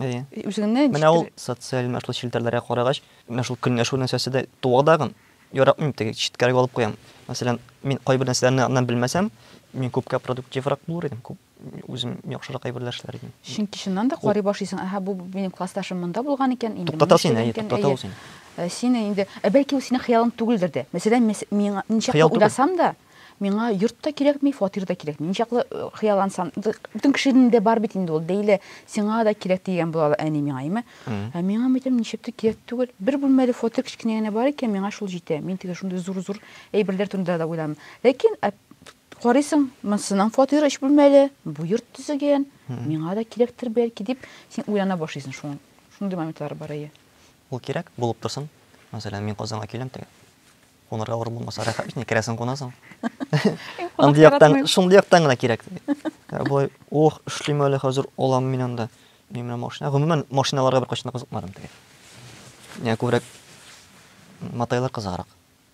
Әйе. Үзеңне Менә ул социаль менә шул челтәрләргә карагач, менә шул көнләшү нәрсәсе дә туа дагын. Яратмыйм теге читкәрәк алып куям. Мәсәлән, мин кайбер нәрсәләрне аннан белмәсәм, мин күпкә продуктиврак булыр идем, күп үзем яхшырак әйберләр эшләр идем. Чөнки чыннан да карый башлыйсың, аһа, бу минем классташым монда булган икән, инде Туктата син, әйе, туктата ул син. Син инде, ә бәлки ул синең хыялың түгелдер дә. Мәсәлән, мин ничек уйласам да, Миңа йорт та кирәкми, фатир да кирәкми. Ничаклы хыяллансам, бөтен кешенең дә бар бит инде ул, бәйле, сиңа да кирәк дигән була ала әни миңа, әйме. Ә миңа мәйтәм, ничек тә кирәк түгел. Бер бүлмәле фатир кечкенә генә бар икән, миңа шул җитә. Мин теге шундый зур-зур әйберләр турында да уйламыйм. Ләкин карыйсың, монсының фатиры өч бүлмәле, бу йорт төзегән, миңа да кирәктер бәлки, дип, син уйлана башлыйсың шуның. Шундый моментлар бар, әйе. Ул кирәк булып торсын. Мәсәлән, мин Казанга киләм теге. Кунарга авыр булмаса, рәхәт бит, керәсең кунасың. Андый яктан, шундый яктан гына кирәк. Ә болай, ох, эшлим әле хәзер, алам мин анда. Мин менә машина, гомумән, машиналарга бер кайчан кызыкмадым теге. Миңа күбрәк матайлар кызыграк,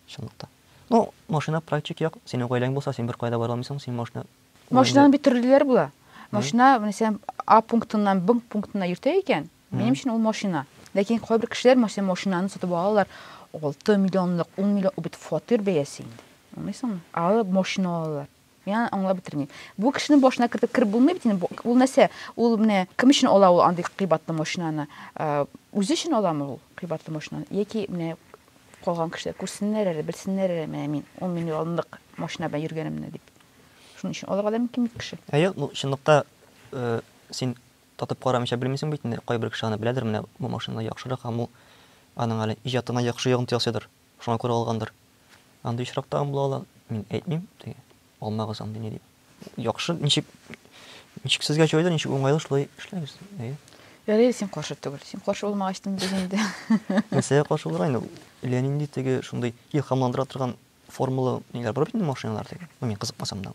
чынлыкта. Ну, машина практик як, синең гаиләң булса, син бер кайда бара алмыйсың, син машина. Машинаның бит төрлеләре була. Машина, менә сен А пунктыннан Б пунктына йөртә икән, Минем өчен ул машина. Ләкин кайбер кешеләр мәсәлән машинаны сатып алалар 6 миллионлык, 10 миллион ул бит фатир бәясе инде. Аңлыйсыңмы? Алып машина алалар. Мин аны аңлап бетермим. Бу кешенең башына кертеп кереп булмый бит инде. Ул нәрсә? Ул менә кем өчен ала ул андый кыйбатлы машинаны? Э, үзе өчен аламы ул кыйбатлы машинаны? Яки менә калган кешеләр күрсеннәр әле, белсеннәр әле, менә мин 10 миллионлык машина белән йөргәнемне дип. Шуның өчен алырга да мөмкин бит кеше. Әйе, ну чынлыкта э, син Татып карамыйча белмисең бит инде, кайбер кеше аны беләдер, менә бу машина яхшырак һәм ул аның әле иҗатына яхшы йогынты ясыйдыр, шуңа күрә алгандыр. Андый очрак тагын була ала, мин әйтмим, теге, алмагыз андыйны дип. Яхшы, ничек, ничек сезгә җайлы, ничек уңайлы, шулай эшләгез, әйе. Ярый, син каршы түгел. Син каршы булмагач, нинди инде. Нәрсәгә каршы булырга инде, әллә нинди теге шундый илһамландыра торган формулы ниләр бар бит инде машиналар теге. Ну, мин кызыкмасам да.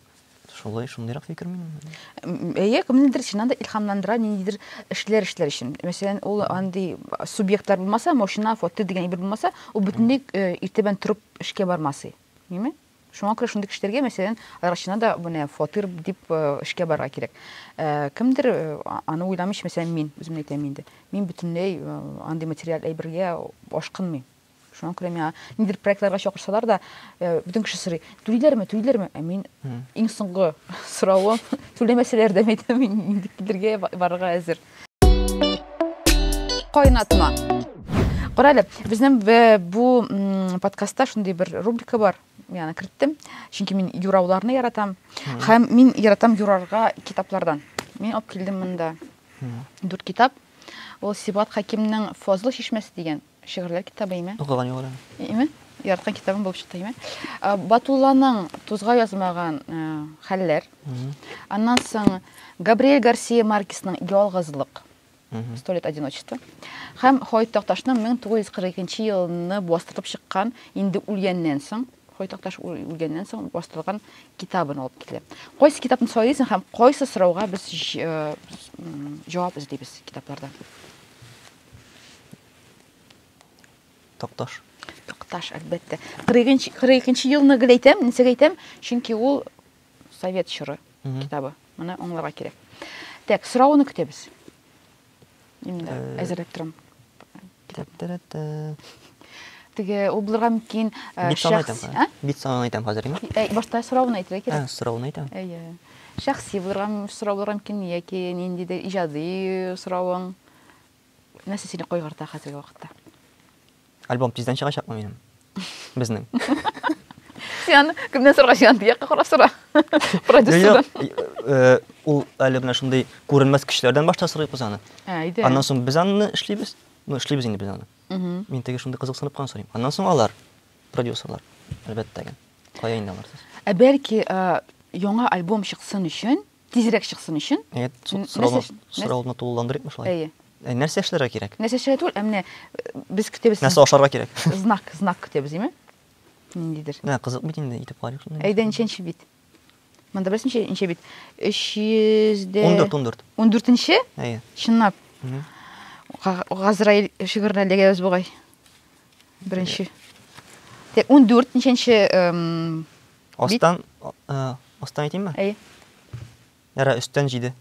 Шулай, шундыйрак фикер минем. Әйе, кемнедер чыннан да илһамландыра ниндидер эшләр эшләр өчен. Мәсәлән, ул андый субъектлар булмаса, машина, фото дигән әйбер булмаса, ул бөтенләй э, иртәбән торып эшкә бармасый. Ниме? Шуңа күрә шундый кешеләргә, мәсәлән, аларчына да менә фатир дип э, эшкә барырга кирәк. Э, кемдер э, а- аны уйламыйча, мәсәлән, мин үземне әйтәм инде. Мин бөтенләй э, андый материаль әйбергә ашкынмыйм. Шуңа күрә миңа нидер проектларга чакырсалар да, э, бөтен кеше сорый, түлиләрме, түлиләрме? Ә мин иң соңгы соравым, түләмәсәләр дә әйтәм, мин инде килергә барырга әзер. Кайнатма. Карале, безнең бу подкастта шундый бер рубрика бар. Мин аны керттем, чөнки мин юрауларны яратам. Һәм мин яратам юрарга китаплардан. Мин алып килдем монда. Дүрт китап. Ул Сибат Хакимның Фозыл чишмәсе дигән. Шигырьләр китабы име? Укыган юк әле. Име? Яраткан китабым булып чыкты име? Э, Батулланың тузга язмаган э, хәлләр. Аннан соң Габриэль Гарсия Маркесның Ялгызлык. Сто лет одиночества. Һәм Хоит Такташның 1942 елны бастырып чыккан инде үлгәннән соң Хоит Такташ үл- үлгәннән соң бастырылган китабын алып килде. Кайсы китапны сайлыйсың һәм кайсы сорауга без җ- э, с- м, җавап эзлибез китапларда? Такташ. Такташ, әлбәттә. 42 елны гел әйтәм, нисек әйтәм, чөнки ул совет чоры китабы. Моны аңларга кирәк. Так, сорауны көтәбез. Инде э, әзерләп торам. Теге ул булырга мөмкин э, шәхси. Ә? Бит санын әйтәм хәзер инде. Э, башта сорауны әйтергә кирәк. Ә, сорауны әйтәм. Әйе. Шәхси булырга сорау булырга мөмкин яки ниндидер иҗади соравың. Нәрсә сине кайгырта хәзерге вакытта? Альбом тиздән чыгачакмы минем? Безнең. Сиан, кемнән сорга сиан дияккә карап сора. Продюсердан. Э, ул әле менә шундый күренмәс көчләрдән башта сорыйбыз аны. Ә, иде. Аннан соң без аны эшлибез. Ну, эшлибез инде без аны. Мин теге шундый кызыксынып кан сорыйм. Аннан соң алар, продюсерлар, әлбәттә генә. Кая инде алар? Ә бәлки яңа альбом чыксын өчен Тизрәк чыксын өчен. Әйе, сорауны тулыландырыйкмы шулай? Әйе. Ә нәрсә эшләргә кирәк? Нәрсә эшләргә түгел, ә менә без көтәбез. Нәрсә ашарга кирәк? Знак, знак көтәбез, димме? Ниндидер. Менә кызык бит инде, итеп карыйк шуны. Әйдә, ничәнче бит? Монда беләсең ничә, ничә бит? 300 дә 14, 14. 14-нче? Әйе. Чынлап. Газраил шигыренә эләгәбез бугай. Беренче. Тә 14 ничәнче Астан, астан әйтим ме? Әйе. Яра, өстән җиде.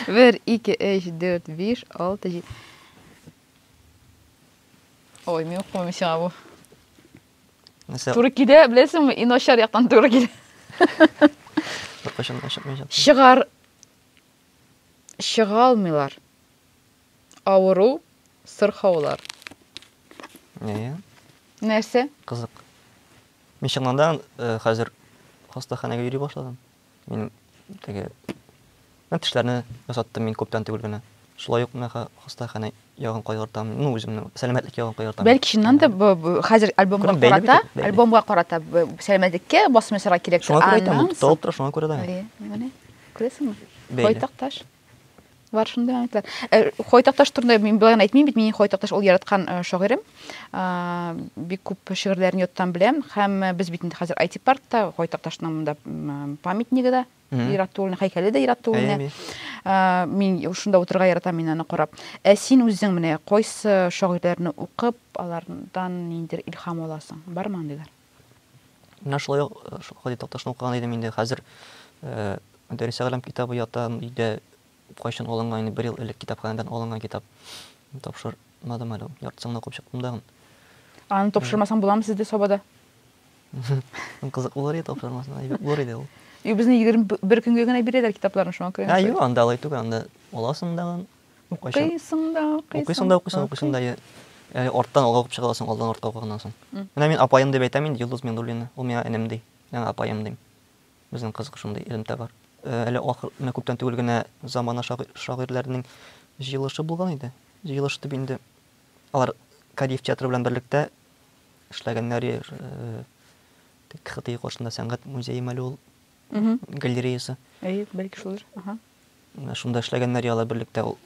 Бер, ике, өч, дүрт, биш, алты, җиде. Ой, мин укымыйм сиңа бу. Нәрсә? Туры килә, беләсеңме? Иң начар яктан туры килә. Кайчан, кайчан, кайчан. Чыгар. Чыга алмыйлар. Авыру, сырхаулар. Әйе. Нәрсә? Кызык. Мин чыннан э, хәзер хастаханәгә йөри башладым. Мин теге мен тешләрне ясаттым мин күптән түгел генә. Шулай ук мен хастаханә ягын кайгыртам. Ну, үземнең сәламәтлек ягын кайгыртам. Бәлки чыннан да хәзер альбомга карата, альбомга карата сәламәтлеккә басмасыра кирәк. Шуңа күрә әйтәм, тотылып тора, шуңа күрә да. Әйе, менә. Күрәсеңме? Байтак таш. Бар шунда әйтәләр. Э, Хойтакташ турында мин болай гына әйтмим бит, минем Хойтакташ ул яраткан э, шагыйрем. А, Бик күп шигырьләрен йоттан беләм һәм э, без бит инде хәзер IT паркта Хойтакташның монда м, памятнигы да Иратуллина, һәйкәле дә Иратуллина. Әйе, А, Мин шунда утырырга яратам мин аны карап. Ә син үзең менә кайсы шагыйрьләрне укып, алардан ниндидер илһам аласың? Бармы андыйлар? Менә шулай ук шул Хади Такташны укыган идем инде. Хәзер Дәрес Әгълам китабы ята өйдә. Кайчан алынган инде, бер ел элек китапханәдән алынган китап. Тапшырмадым әле ул. Яртысын гына укып чыктым да. Аны тапшырмасаң буламы сездә Сабада? Кызык булыр иде тапшырмасаң, әйбәт булыр иде ул. Юк, безне 21 көнгә генә бирәләр китапларны, шуңа күрә. Ә юк, анда алай түгел, анда аласың да. Укыйсың да, укыйсың. Укыйсың да, укыйсың, укыйсың да. Яни арттан алга укып чыга аласың, алдан артка укыганнан соң. Менә мин апаем дип әйтәм инде Йолдыз Миндуллина. Ул миңа энем ди. Мин аңа апаем дим. Безнең кызык шундый элемтә бар. Әле ахыр, менә күптән түгел генә замана шагыйрьләренең җыелышы булган иде. Җыелыш итеп инде алар Кадиев театры белән берлектә эшләгәннәр. КХТИ каршында сәнгать музее мәле ул. галереясы. Әйе, бәлки шулдыр. Ага. Менә шунда эшләгәннәр яла берлектә ул.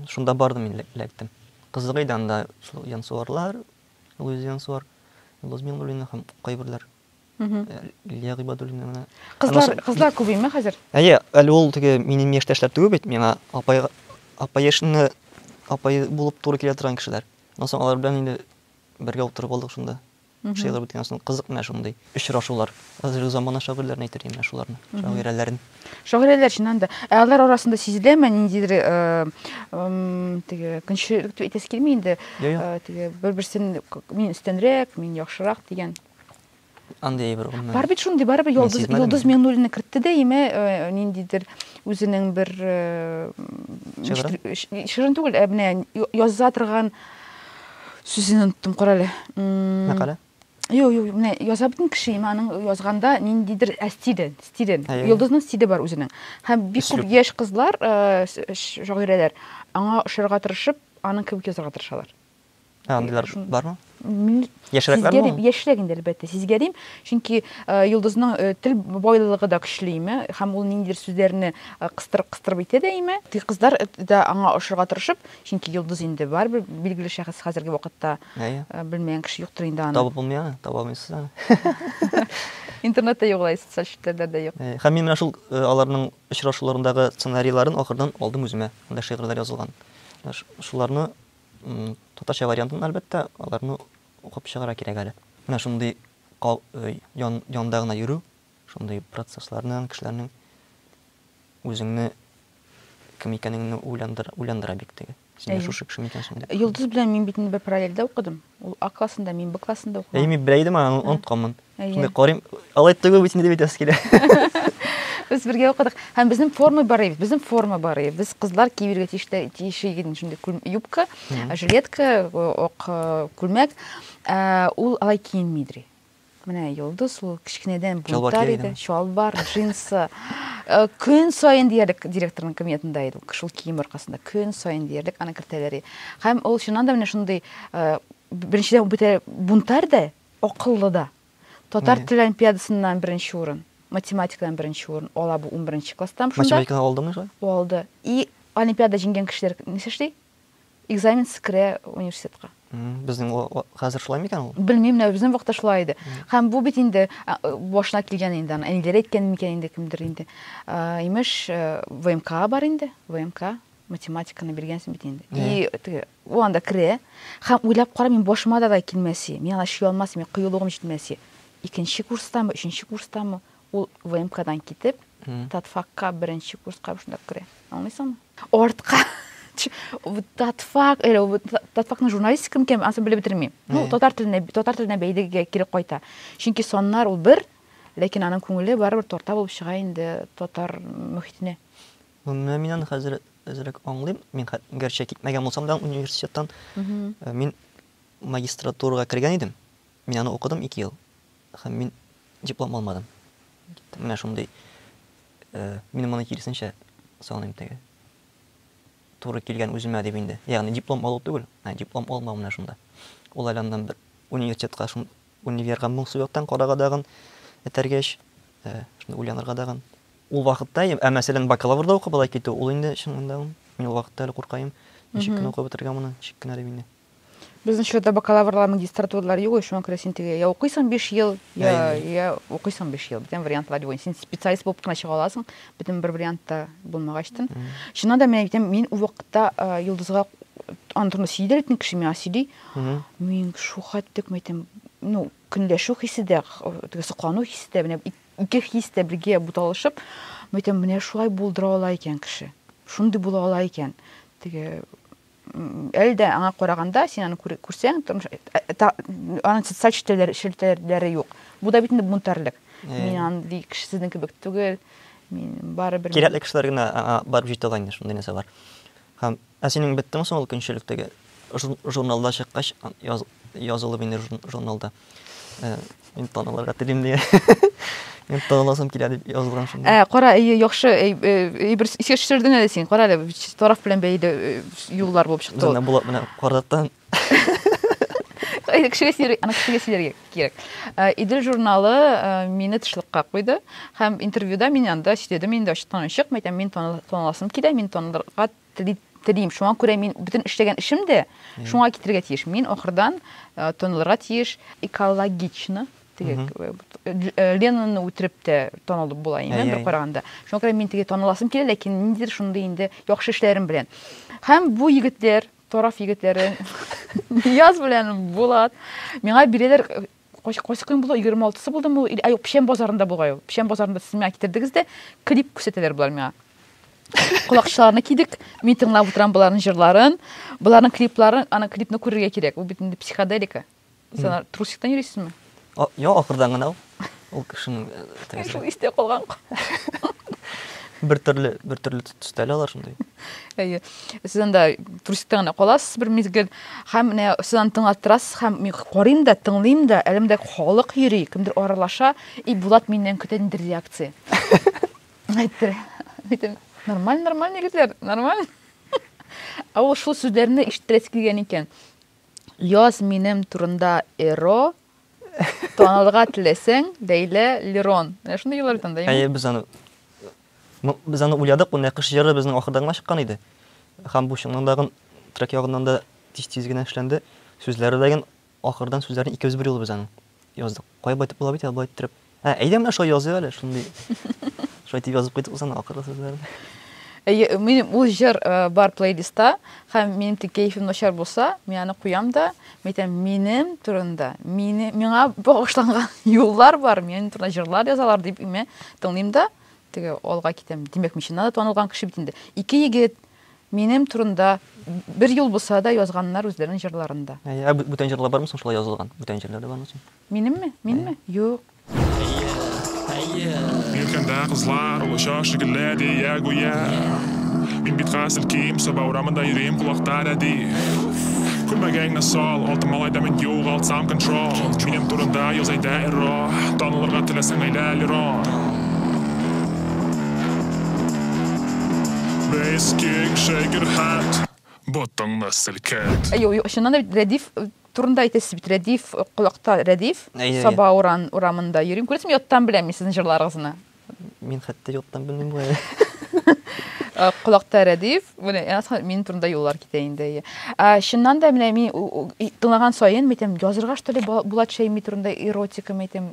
Шунда бардым мин эләктем. Кызык иде анда шул Янсуарлар, Луиз Янсуар, Луз Мингулина һәм кайберләр. Лилия Гыйбадуллина менә. Кызлар, кызлар күбеме хәзер? Әйе, әле ул теге минем яшьтәшләр түгел бит, миңа апай апай яшенне апай булып туры килә торган кешеләр. Аннан соң алар белән инде бергә утырып алдык шунда. Шигырь беткәннән соң кызык менә шундый очрашулар. Хәзерге замана шагыйрьләрен әйтер идем менә шуларны, шагыйрәләрен. Шагыйрәләр чыннан да. Ә алар арасында сизеләме ниндидер теге көнчелек дип әйтәсе килми инде. Теге бер-берсен мин өстәнрәк, мин яхшырак дигән. Андый әйбер гомумән. Бар бит шундый, барыбер Йолдыз Йолдыз Миңнуллина кертте дә име ниндидер үзенең бер шигырен түгел, ә менә яза торган Сүзен оныттым, карале. Мәкале? Юк, юк, менә яза бит кеше, имә аның язганда ниндидер ә стиле, стиле. Йолдызның стиле бар үзенең. Һәм бик күп яшь кызлар, шагыйрәләр аңа ошарга тырышып, аның кебек язарга тырышалар. Ә андыйлар бармы? Яшьрәкләр бар. Яшьрәк инде әлбәттә, сезгә дим, чөнки Йолдызның тел байлыгы да көчле име, һәм ул ниндидер сүзләрне кыстырып-кыстырып әйтә дә име. Ди кызлар да аңа ошарга тырышып, Чөнки йолдыз инде барыбер билгеле шәхес хәзерге вакытта. Әйе. Белмәгән кеше юктыр инде аны. Табып булмый аны, таба алмыйсыз аны. Интернетта юк алай, социаль челтәрләрдә дә юк. Һәм мин менә шул аларның очрашуларындагы сценарийларын ахырдан алдым үземә. Анда шигырьләр язылган. Шуларны татарча вариантын, әлбәттә, аларны укып чыгарга кирәк әле. Менә шундый янында гына йөрү, Шундый процесслар белән кешеләрнең үзеңне кем икәнеңне уйландыра, уйландыра бик теге. Син дә шушы кеше микән соң дип. Йолдыз белән мин бит инде бер параллельдә укыдым. Ул А классында, мин Б классында укыдым. Әйе, мин белә идем, аны онытканмын. Шундый карыйм, алай түгел бит инде дип әйтәсе килә. Без бергә укыдык. Һәм безнең форма бар иде, безнең форма бар иде. Без кызлар киергә тиешле тиешле иде шундый юбка, жилетка, ак күлмәк. Ул алай киенми иде. Менә Йолдыз ул кечкенәдән бунтарь иде. Чалбар, джинсы. Э, көн саен диярлек директорның кабинетында иде ул шул кием аркасында. Көн саен диярлек аны кертәләр. Һәм ул чыннан да менә шундый э, беренчедән бөтә бунтарь да, акыллы да. Татар теле олимпиадасыннан беренче урын, математикадан беренче урын ала бу 11 класстан шунда. Математикадан алдымы шулай? Алды. И олимпиада җиңгән кешеләр нәрсә эшли? Экзаменсыз керә университетка. Безнең хәзер шулай микән ул? Белмим, менә безнең вакытта шулай иде. Һәм бу бит инде башына килгән инде, аны әниләре әйткән микән инде кемдер инде. Имеш, ВМК бар инде, ВМК математиканы биргәнсең бит инде. И теге ул анда керә. Һәм уйлап кара, мин башыма да да килмәсе. Мин ана чөй алмас, мин кыюлыгым җитмәсе. Икенче курстамы, өченче курстамы? Ул ВМКдан китеп, Татфакка беренче курска шунда керә. Аңлыйсыңмы? Артка татфак, әле татфакның журналистика микән, ансы белеп бетермим. Ну, татар теленә, татар теленә бәйлегә кире кайта. Чөнки соннар ул бер, ләкин аның күңеле барыбер тарта булып чыга инде татар мөхитенә. Ну, менә мин аны хәзер әзрәк аңлыйм. Мин гәрчә китмәгән булсам да университеттан, мин магистратурага кергән идем. Мин аны укыдым 2 ел. Һәм мин диплом алмадым. Менә шундый мин моны киресенчә саныйм теге. Туры килгән үземә дип инде. Ягъни диплом алу түгел, ә диплом алмау менә шунда. Ул әле аннан бер университетка, шун универга моңсу яктан карарга дагын этәргәч, шунда уйланырга дагын. Ул вакытта, ә мәсәлән, бакалаврда укып алай китү, ул инде чынында мин ул вакытта әле куркаем. Ничек кенә укып бетергән моны, ничек кенә дип инде. Безнең чорда бакалаврлар, магистратуралар юк, шуңа күрә син теге я укыйсың 5 ел, я я укыйсың 5 ел. Бүтән вариантлар юк. Син специалист булып кына чыга аласың, бүтән бер вариантта булмагач тын. Чыннан да мин әйтәм, мин ул вакытта Йолдызга аны турында сөйдер итне кеше миңа сөйли. Мин шухат дип әйтәм, ну, көнләшү хисе дә, теге соклану хисе дә, менә ике хис тә бергә буталышып, мин әйтәм, менә шулай булдыра ала икән кеше. Шундый була ала икән. Теге әле дә аңа караганда, син аны күрсәң, тормыш, аның социаль челтәләре, челтәләре юк. Бу да бит инде бунтарлык. Мин андый кеше сезнең кебек түгел. Мин бары бер Кирәкле кешеләр генә барып җитә ала инде шундый нәрсә бар. Һәм ә синең беттең соң ул көнчелектәге журналда чыккач яз, язылып инде журналда. Э, мин танылырга телим дигән. Мин таныласым килә дип язылган шунда. Ә, кара, яхшы, бер исеш сөрдең әле син. Кара әле, тараф белән бәйле э, юллар булып чыкты. Менә булат менә кардаттан. Кешегә сирәк, ана кешегә сирәк кирәк. Э, Идел журналы мине тышлыкка куйды һәм интервьюда мин анда сөйләдем инде ачыктан ачык, мәйтәм, мин таныласым килә, мин танылырга Тели, телим. Шуңа күрә мин бөтен эшләгән эшем дә шуңа китерергә тиеш. Мин ахырдан э, танылырга тиеш экологично теге э, э, Ленинны үтереп тә танылып була инде бер караганда. Шуңа күрә мин теге таныласым килә, ләкин ниндидер шундый инде яхшы эшләрем белән. Һәм бу егетләр, тараф егетләре Нияз белән Булат миңа бирәләр Кайсы кайсы көн була 26-сы булдымы ул? Ә юк, Печән базарында булгай ул. Печән базарында сез миңа китердегез дә, клип күрсәтәләр булар миңа. Колакчыларны кидек, мин тыңлап утырам боларның җырларын, боларның клипларын, аны клипны күрергә кирәк. Ул бит инде психоделика. Сез трусиктан йөрисезме? Йо, ахырдан гына ул. Ул кешенең э, шул истә калган. Бер төрле, бер төрле төстәле алар шундый. Әйе. сез анда трусикта гына каласыз бер мизгел һәм менә сез аны тыңлаттырасыз һәм мин карыйм да тыңлыйм да әлемдә халык йөри кемдер аралаша и булат миннән көтә нинди реакция әйтте әйтем нормаль нормаль нигезләр нормаль ә ул шул сүзләрне ишеттерәсе килгән икән Яз минем турында эро танырга теләсәң, бәйлә Лерон. Менә шундый еллар бит анда, Әйе, без аны без аны уйладык, бу Нәкыш җыры безнең ахырда гына чыккан иде. Һәм бу чыннан да трек ягыннан да тиз-тиз генә эшләнде. Сүзләре дә ахырдан сүзләрен икебез бер юлы без аның. Яздык. Кая байтып була бит, алба иттереп. Ә, әйдә менә шулай языйк әле, шундый. Шулай дип язып куйдык үзен акыры сүзләрне. Әйе, минем ул җыр э, бар плейлиста, һәм минем тик кәефем начар булса, мин аны куям да, мин әйтәм, минем турында, мине, миңа багышланган юллар бар, минем турында җырлар язалар дип, мин тыңлыйм да, теге алга китәм. Димәк, мин чыннан да танылган кеше бит инде. Ике егет, Минем турында бер юл булса да язганнар үзләренең җырларында. Әйе, ә бүтән җырлар бармы соң шулай язылган? Бүтән җырлар да бармы соң? Минемме? Минме? Юк. Иркәндә кызлар олыча шикелле дия гүя Мин бит хәзер ким, Саба урамында йөрим колакта рәди Күлмәгеңне сал, алты малай да мин югалтсам контрол Минем турында яз әйдә эро, танылырга теләсәң әйлә лерон Без киң шәгерхәт, ботыңны селкет. Әйе, ул чыннан да бит Рәдиф турында әйтәсез бит, Рәдиф, колакта Рәдиф, Саба урамында йөрим. Күрәсезме, яттан беләм мин сезнең җырларыгызны. Мин хәтта яттан белмим бу әле. Колакта Рәдиф, менә мин турында юллар китә инде, әйе. Чыннан да менә мин тыңлаган саен, мин әйтәм, язырга что ли Булат Шәйми турында эротика, мин әйтәм.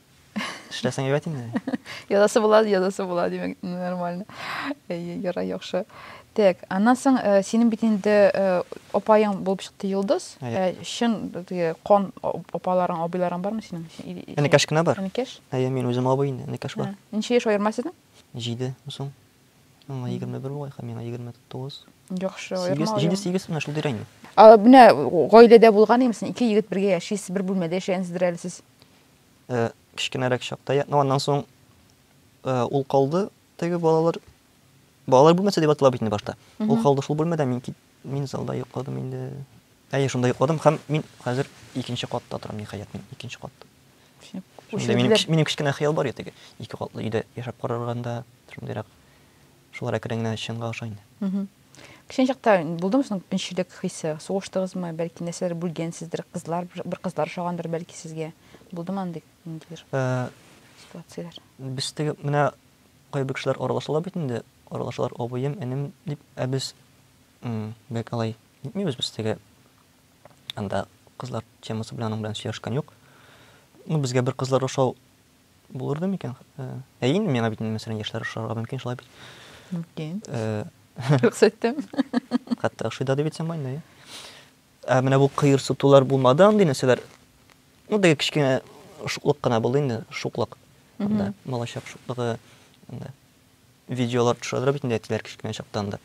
Эшләсәң әйбәт инде. Язасы була, язасы була, димәк, нормально. Әйе, ярай, яхшы. Так, аннан соң э, синең бит инде э, апаең булып чыкты Йолдыз. Әйе. Э, Чын теге кан ап- апаларың, абыйларың бармы синең? И- и- Энекәш кенә бар. Энекәш? Әйе, мин үзем абый инде, энекәш бар. Ә, Ничә яшь аерма сезнең? Җиде соң. Аңа егерме бер бугай, һәм миңа егерме тугыз. Яхшы, Сигез, аерма. җиде, сигез, менә шул тирә инде. А, менә гаиләдә булган имсен, ике егет бергә яшисез, бер бүлмәдә яшәгәнсездер әле сез. Кечкенәрәк чакта я, ну аннан соң ул калды теге балалар балалар бүлмәсе дип атала бит инде башта. Ул калды шул бүлмәдә, мин кит, мин залда йокладым инде. Әйе, шунда йокладым һәм мин хәзер икенче катта торам, ниһаять, мин икенче катта. Шунда минем, минем кечкенә хыял бар ятеге. Ике катлы өйдә яшәп карарганда, шундыйрак. Шулар әкрен генә чынга аша инде. Кечкенә чакта булдымы соң көнчелек хисе? Сугыштыгызмы? Бәлки нәрсәдер бүлгәнсездер, кызлар, бер кызлар ошагандыр бәлки сезгә. Булдымы андый ниндидер ситуацияләр? Без теге менә кайбер кешеләр аралашалар бит инде, аралашалар абыем, энем дип, ә без бик алай итмибез, без теге анда кызлар темасы белән аның белән сөйләшкән юк. Ну, безгә бер кызлар ошау Булырды микән? Э, әйе инде, миңа бит инде мәсәлән яшьләр ошарга мөмкин, шулай бит. Мөмкин. Э, Рөхсәт иттем. Хәтта ошый да дип әйтсәм бар инде. Ә менә бу кыерсытулар булмады андый нәрсәләр. Ну, теге кечкенә шуклык кына булды инде, шуклык. Анда малачак шуклыгы анда видеолар төшердерә бит инде әтиләр кечкенә чактан да.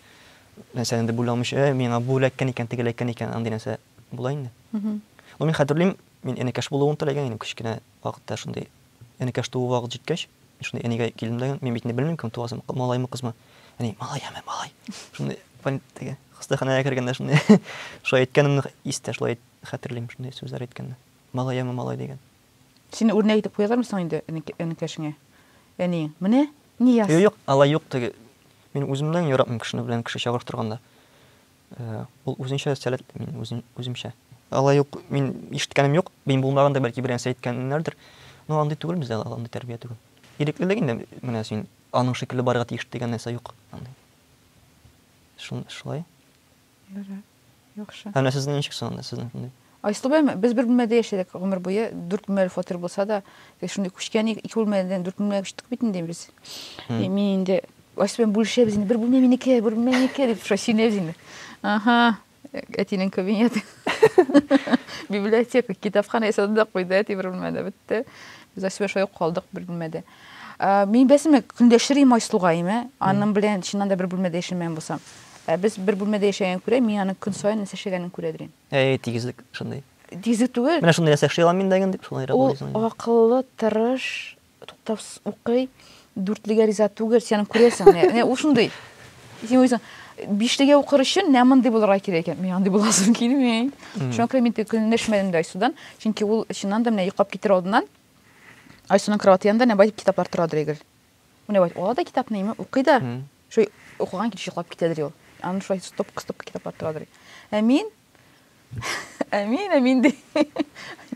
Мәсәлән, инде бүләмеш, ә миңа бу эләккән икән, теге эләккән икән, андый нәрсә була инде. Ну, мин хәтерлим, мин энекәш булуын теләгән идем кечкенә Вакытта шундый энекәш туу вакыт җиткәч, мин шундый әнигә килдем дә, мин бит инде белмим, кем туа соң, малаймы, кызмы. Әни, малай, әмма, малай. Шундый больни-, теге, хастаханәгә кергәндә шундый шулай әйткәнемне истә, шулай әйт, хәтерлим, шундый сүзләр әйткәнне. Малай, әмма, малай дигән. Сине үрнәк итеп куялармы соң инде энек-, энекәшеңә, әниең, менә, Нияз! Юк, алай юк, теге, мин үземнән яратмыйм кешене белән кеше чагыштырганда. Ул үзенчә сәләтле, мин үземчә. Алай ук мин ишеткәнем юк. Мин булмаганда, бәлки, берәрсе әйткәннәрдер. Но андый түгел бездә, ул андый тәрбия түгел. Иреклелек инде, менә син аның шикелле барырга тиеш дигән нәрсә юк андый. Шулай. Дөрес. Яхшы. Ә менә сезнең ничек соң анда, сезнең шундый? Айсылуым, без бер бүлмәдә яшәдек гомер буе. Дүрт бүлмәле фатир булса да, без шундый күчкән идек, ике бүлмәдән дүрт бүлмәгә күчтек бит инде без. И мин инде Айсылуым бүлешәбез инде, бер бүлмә минеке, бер бүлмә минеке дип шулай сөенәбез инде. Аһа, әтинең кабинеты. Библиотека, китапханә ясады да куйды әти бер бүлмәдә, бетте. Без Айсылуым шулай ук калдык бер бүлмәдә. Мин бәсеме көндәшер идем Айсылугаем, ә? Аның белән чыннан да бер бүлмәдә яшәмәгән булсам. Ә без бер бүлмәдә яшәгәнгә күрә, мин аның көн саен нәрсә эшләгәнен күрә идем. Әй, тигезлек шундый. Тигезлек түгел. Менә шундый нәрсә эшли алам мин дә инде дип, шулайрак уйлыйсың инде. Ул акыллы, тырыш, туктавсыз укый, дүртлегә риза түгел, син аны күрәсең. Менә ул шундый. Син уйлыйсың, бишлегә укыр өчен менә мондый булырга кирәк икән. Мин андый буласым килми. Шуңа күрә мин көнләшмәдем дә Айсудан, чөнки ул чыннан да менә йоклап китер алдыннан Айсуның кровати янында нәбай китаплар тора дөрегел. Менә бит, ала да китапны, име, укый да. Шулай укыган килеш йоклап китәдер ул. Аны шулай стопка-стопка китаплар торадыр. Ә мин Ә мин, ә мин ди.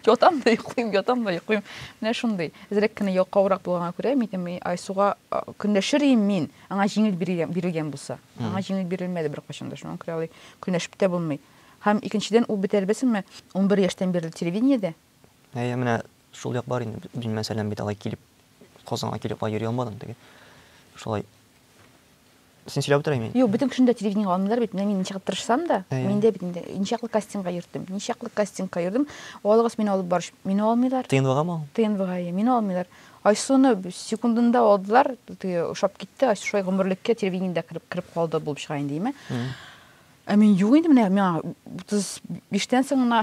Ятам да йоклыйм, ятам да йоклыйм. Менә шундый. Әзрәк кенә ялкаурак булганга күрә, мин Айсуга көнләшер идем мин, аңа җиңел бирелгән булса. Аңа җиңел бирелмәде беркайчан да, шуңа күрә алай көнләшеп тә булмый. Һәм икенчедән, ул бит әлбәттәме, 11 яшьтән бирле телевидениедә, Әйе, менә шул як бар инде, мин мәсәлән бит алай килеп, Казанга килеп алай йөри алмадым теге. Шулай Син сөйләп утыра мин. Юк, бөтен кешене дә телевидениегә алмыйлар бит. Менә мин ничек тырышсам да, мин дә бит инде ничаклы кастингка йөрдем. Ничаклы кастингка йөрдем. Алыгыз мине алып барыч. Мине алмыйлар. ТНВгамы ул? ТНВга, әйе. Мине алмыйлар. Айсуны секундында алдылар, теге ошап китте. Айсу шулай гомерлеккә телевидениедә кереп калды булып чыга инде, име? Ә мин юк инде менә миңа 35 тән соң гына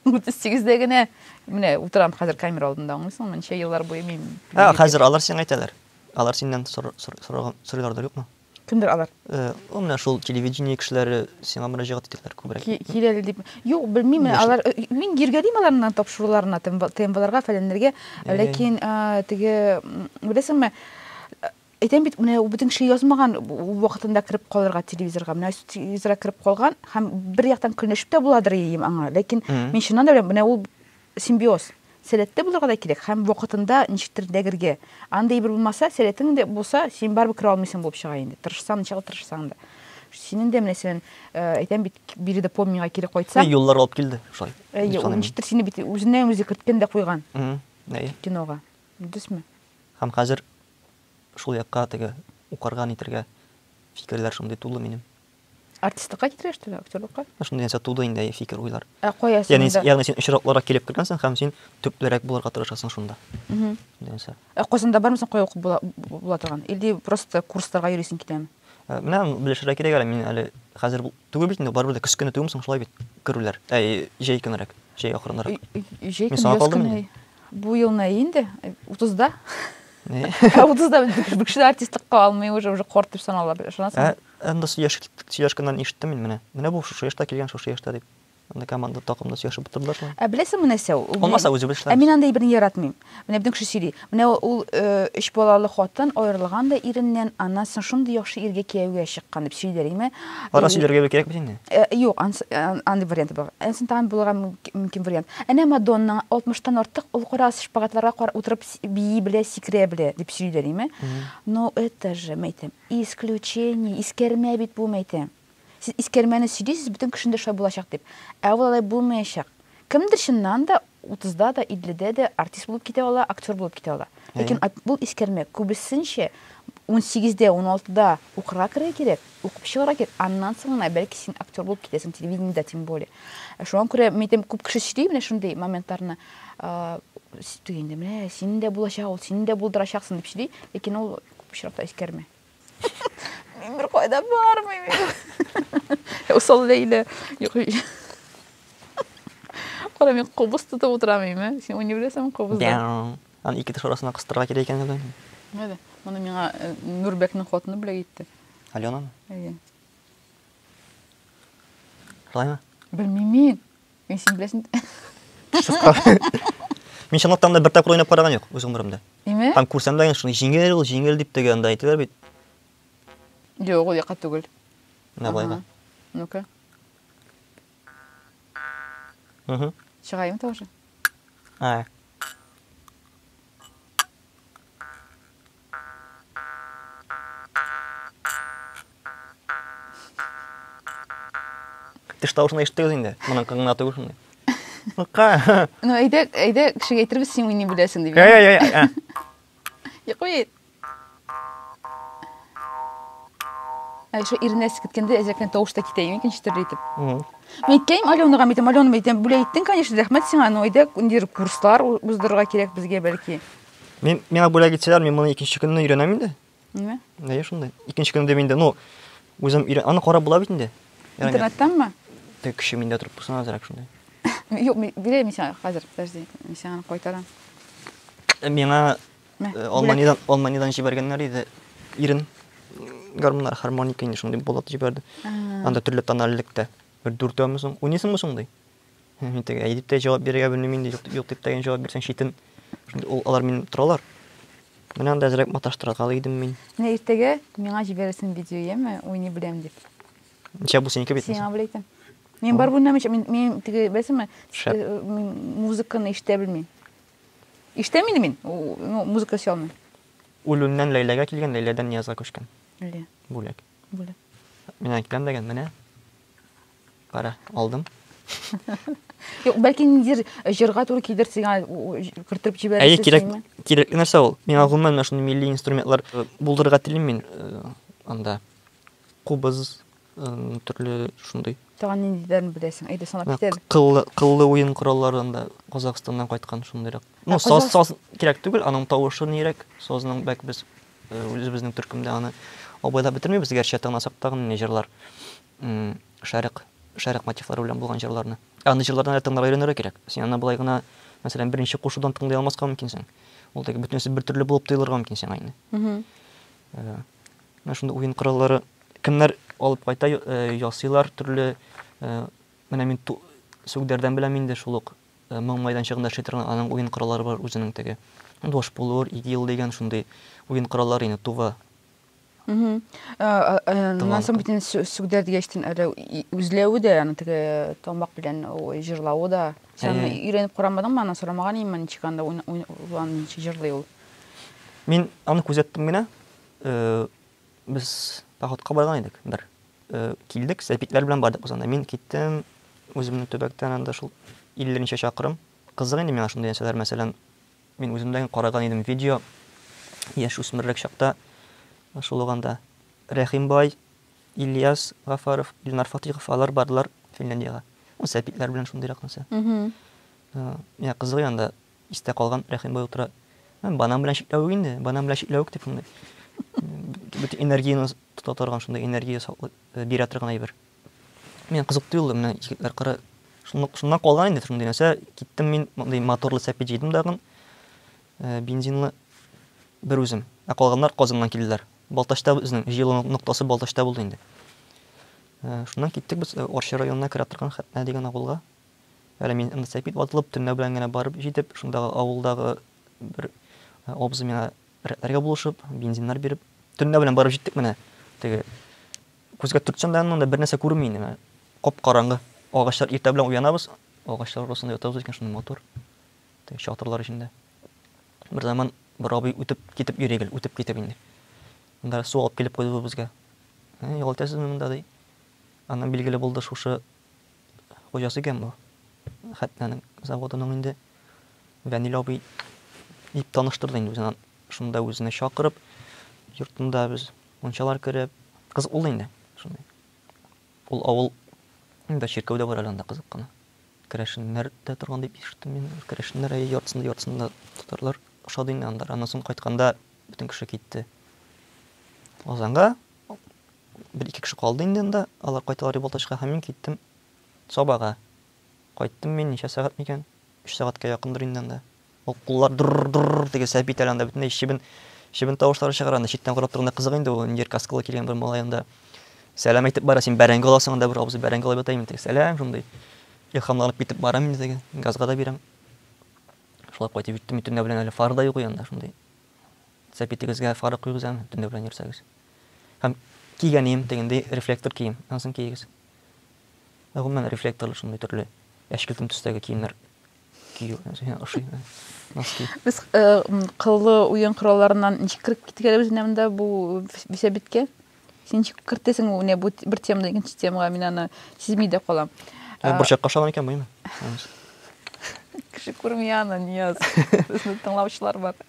38 дә генә менә утырам хәзер камера алдында аңлыйсыңмы ничә еллар буе мин ә хәзер алар сиңа әйтәләр алар синнән сорыйлардыр юкмы кемдер алар э, ул менә шул телевидение кешеләре сиңа мөрәҗәгать итәләр күбрәк киләле дип юк белмим алар э, мин йөргәлим аларның тапшыруларына тмбларга фәләннәргә ләкин теге беләсеңме Әйтәм бит, менә бөтен кеше язмаган вакытында кереп калырга телевизорга. Менә телевизорга кереп калган һәм бер яктан көнләшеп тә буладыр ием аңа. Ләкин мин чыннан да менә ул симбиоз. Сәләтле булырга да кирәк һәм вакытында ничектер дәгергә. Андый бер булмаса, сәләтең дә булса, син барыбер керә алмыйсың булып чыга инде. Тырышсаң, ничаклы тырышсаң да. Синең дә менә сен, әйтәм бит, биредә помнигә кире кайтсаң. Мин юллар алып килде, шулай. Әйе, ул ничектер сине бит үзеннән-үзе керткән дә куйган. Әйе. Кинога. Дөресме? Һәм хәзер шул якка теге укырга нитергә фикерләр шундый тулы минем. Артистлыкка китергәч тә актерлыкка? Шундый нәрсә туды инде фикер уйлар. Ә кая син? Ягъни, ягъни син очракларга килеп кергәнсең һәм син төплерәк булырга тырышасың шунда. Нәрсә? Ә Казанда бармы соң кая укып була, була торган? Или просто курсларга йөрисең китәме? Э, менә белешергә кирәк әле мин әле хәзер түгел бит инде барыбер дә көз көне түгелме соң шулай бит керүләр ә җәй көнерәк җәй акрынрак җәй көне яз көне бу ел нә инде утызда ә утызда бер кеше артистлыкка алмый уже уже корт дип санала ышанасың ә анда сөйләшкәннән ишеттем мин менә менә бу шушы яшьтә килгән шушы яшьтә дип Анда команда такымда сөйләшеп утырдылар шул. Ә беләсеңме нәрсә ул? Булмаса үзе белешләр. Ә мин анда берни яратмыйм. Менә безнең кеше сөйли. Менә ул өч балалы хатын аерылган да иреннән, аннан соң шундый яхшы иргә кияүгә чыккан дип сөйлиләр име? Ара сөйләргә бик кирәк бит инде. Юк, андый вариант бар. Әнсен тагын булырга мөмкин вариант. Әнә Мадонна 60 тан артык ул кара шпагатларга утырып бии белә, сикерә белә дип сөйлиләр име? Но это же, мәйтәм, исключение, искәрмә бит бу, мәйтәм. Сез искәрмәне сөйлисез, бөтен кешенең дә шулай булачак дип. Ә ул алай булмаячак. Кемдер чыннан да утызда да, илледә дә артист булып китә ала, актер булып китә ала. Ләкин Әйе. ат бул искәрмә күбесенчә унсигездә, уналтыда укырга керергә кирәк, укып чыгарга кирәк, аннан соң гына бәлки син актер булып китәсең, телевидениедә тем более. Ә шуңа күрә мин әйтәм, күп кеше сөйли менә шундый моментларны, Инде менә синең дә булачак ул, син дә булдырачаксың, дип сөйли, ләкин ул күп очракта искәрмә. Мин бер кайда бармыйм. Усал Ләйлә. Кара, мин кубыз тотып утырам име? Син уйный беләсеңме кубызда? Аны ике теш арасына кыстырырга кирәк икән әле. Менә, моны миңа э, Нурбәкнең хатыны бүләк итте. Аленамы? Әйе. Шулаймы? Белмим мин. Мин син беләсен. Мин чынлыктан да бер тапкыр уйнап караган юк үз гомеремдә. Име? Һәм күрсәм дә шуны җиңел ул, җиңел дип теге анда әйтәләр бит. Юк, ул яка түгел. Менә болайга. Ну-ка. Угу. Чыгаем тоже. А. Теш тавышын да ишеттегез инде. Моның кыңына түгел шундый. Ка. Ну, әйдә, әйдә кешегә әйтербез, син уйный беләсең дип. Я, я, я, я. Йоклый. Ә шо иренә сикеткәндә әзрәкне тавыш та китә, микән читерле итеп. Мин әйткәйм, Аленага әйтәм, Алена әйтәм, бүләк иттең, конечно, рәхмәт сиңа, но әйдә, ниндидер курслар уздырырга кирәк безгә бәлки. Мин миңа бүләк итсәләр, мин моны икенче көнне өйрәнәм инде. Ниме? Әйе, шундый. Икенче көнне дә инде, ну, үзем өйрән... Аны карап була бит инде. Интернеттанмы? Тек кеше миндә торып булсын азрак шундый. Юк, бирәм исә хәзер, подожди, мин сиңа аны кайтарам. Э, миңа э, Алманидан, Алманидан җибәргәннәр иде. Ирен гармоннар, гармоника инде шундый болот җибәрде. Анда төрле тональлектә. Бер дүртәүме соң? Уйныйсыңмы соң ди? Мин теге әйдип тә җавап бирергә белмим инде, юк, юк дип тә җавап бирсәң читен. Шундый ул алар мин торалар. Менә анда әзрәк маташтырырга идем мин. Менә иртәгә миңа җибәрерсең видео, яме, уйный беләм дип. Ничә бу синеке бит? Сиңа белә икән. Мин бар бүлмәм ич, мин, мин теге, беләсеңме, э, мин музыканы ишетә белмим. Ишетәм инде мин, ну, музыка ишетә алмыйм. Үлүннән Ләйләгә килгән, Ләйләдән Ниязга күчкән. Лә. Бүләк. Бүләк. Менә киләм дигән, менә. Кара, алдым. Юк, бәлки ниндидер э, җырга туры килер сиңа кертеп җибәрәсез. Әйе, кирәк, кирәк нәрсә ул. Миңа гомумән менә шундый милли инструментлар э, булдырырга телим мин э, анда. Кубыз, төрле шундый. Тагын ниндидерен беләсең? Әйдә санап китәбез. Кыллы, кыллы уен кораллары анда Казахстаннан кайткан шундыйрак. Ну, саз, саз кирәк түгел, аның тавышы нирәк, сазның бәк без үзебезнең төркемдә аны абайлап бетермибез, гәрчә тыңласак тагын не җырлар. Шәрык, Шәрык мотивлары белән булган җырларны. Ә андый җырларны әле тыңларга өйрәнергә кирәк. Син аны болай гына, мәсәлән, беренче кушудан тыңлый алмаска мөмкинсең. Ул теге бөтенесе бер төрле булып тоелырга мөмкин сиңа инде. Менә шундый уен кораллары кемнәр алып кайта, ясыйлар төрле. Менә мин Сүгдәрдән беләм инде шул ук моң майданчыгында эшли торган аның уен кораллары бар үзенең теге. Дошпулур, игил дигән шундый уен кораллары инде тува. Аннан соң бит инде сүгдәр дигәчтен әле үзләве дә, аны теге тамак белән җырлавы да. Сән өйрәнеп карамадыңмы, аны сорамаган идем мин ничек анда уйлан ничек җырлый ул. Мин аны күзәттем генә. Без походка барган идек бер. Килдек, сәпитләр белән бардык без анда. Мин киттем, үземне төбәктән анда шул 50 нче чакрым. Кызык инде миңа шундый нәрсәләр, мәсәлән, Мин үземдән караган идем видео яшь үсмерлек чакта шул ук анда Рәхим бай, Ильяс Гафаров, Илнар Фатыйхов алар бардылар Финляндиягә. Ну сәпитләр белән шундыйрак нәрсә. Миңа кызыгый анда истә калган Рәхим бай утыра. Банан белән чикләвек инде, банан белән чикләвек дип шундый. Бөтен энергияне тота торган шундый энергия бирә торган әйбер. Мин кызык тоелды менә егетләр кыры. Шуннан калган инде шундый нәрсә. Киттем мин мондый моторлы сәпи җыйдым дагын. Э, бензинлы бер үзем. Ә калганнар Казаннан килделәр. Балтачта безнең җыелу ноктасы Балтачта булды инде. Э, шуннан киттек без э, Орчы районына керә торган Хәтнә дигән авылга. Әле мин инде сәпит ватылып, төнлә белән генә барып җитеп, шундагы авылдагы бер э, абзый миңа рәтләргә булышып, бензиннар биреп, төнлә белән барып җиттек менә теге Күзгә төртсәң дә аннан да бернәрсә күренми инде, менә кап-караңгы. Агачлар иртә белән уянабыз, агачлар арасында ятабыз икән, шундый матур. Теге чатырлар эчендә. Берзаман бер абый үтеп китеп йөри гел, үтеп китеп инде. Монда су алып килеп куйды бу безгә. Ә, ял итәсезме монда, ди. Аннан билгеле булды, шушы хуҗасы икән бу. Хәтнәнең заводының инде Вәнил абый дип таныштырды инде үзен. Шунда үзенә чакырып, йортында без Мунчалар кереп, кызык булды инде, шундый. Ул авыл инде чиркәү дә бар әле анда кызык кына. Керәшеннәр дә торган дип ишеттем мин. Керәшеннәр әйе яртысында яртысында татарлар ошады инде анда. Аннан соң кайтканда бөтен кеше китте. Лазанга бер ике кеше калды инде анда. Алар кайталар дип Балтачка һәм мин киттем Сабага. Кайттым мин ничә сәгать микән? Өч сәгатькә якындыр инде анда. Ул куллар дыр-р-р-р-р дип сәпи итә әле анда, бөтенләй чебен, чебен тавышлары чыгара анда. Читтән карап торганда кызык инде ул, нидер каскалы килгән бер малай анда сәлам әйтеп бара, син бәрәңге аласың анда, бер абзый бәрәңге алып ята имин теге. Сәлам, шундый илһамланып китеп барам инде теге, газга да бирәм. Шулай кайтып җиттем, мин төнлә белән әле фары да юк иде анда, шундый. Сәпи тегезгә фары куегыз әле, төнлә белән йөрсәгез. Һәм кигән ием тегендәй рефлектор кием, анысын киегез. Ә гомумән рефлекторлы шундый төрле әчкелтем төстәге киемнәр Без кыллы уен коралларыннан ничек кереп киткәнебез менә монда бу бисәбиткә. Син ничек кертәсең менә бу бер темадан икенче темага мин аны сизми дә калам. Ә борчакка шалам икән буйны. Кеше күрми аны, Нияз. Безне тыңлаучылар бар.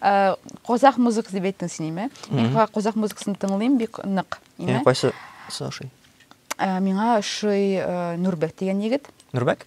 Ә казах музык дип әйттең син, име? Мин казах музыкасын тыңлыйм бик нык, име? Ә кайсы соши? Ә миңа шуй Нурбек дигән егет. Нурбек?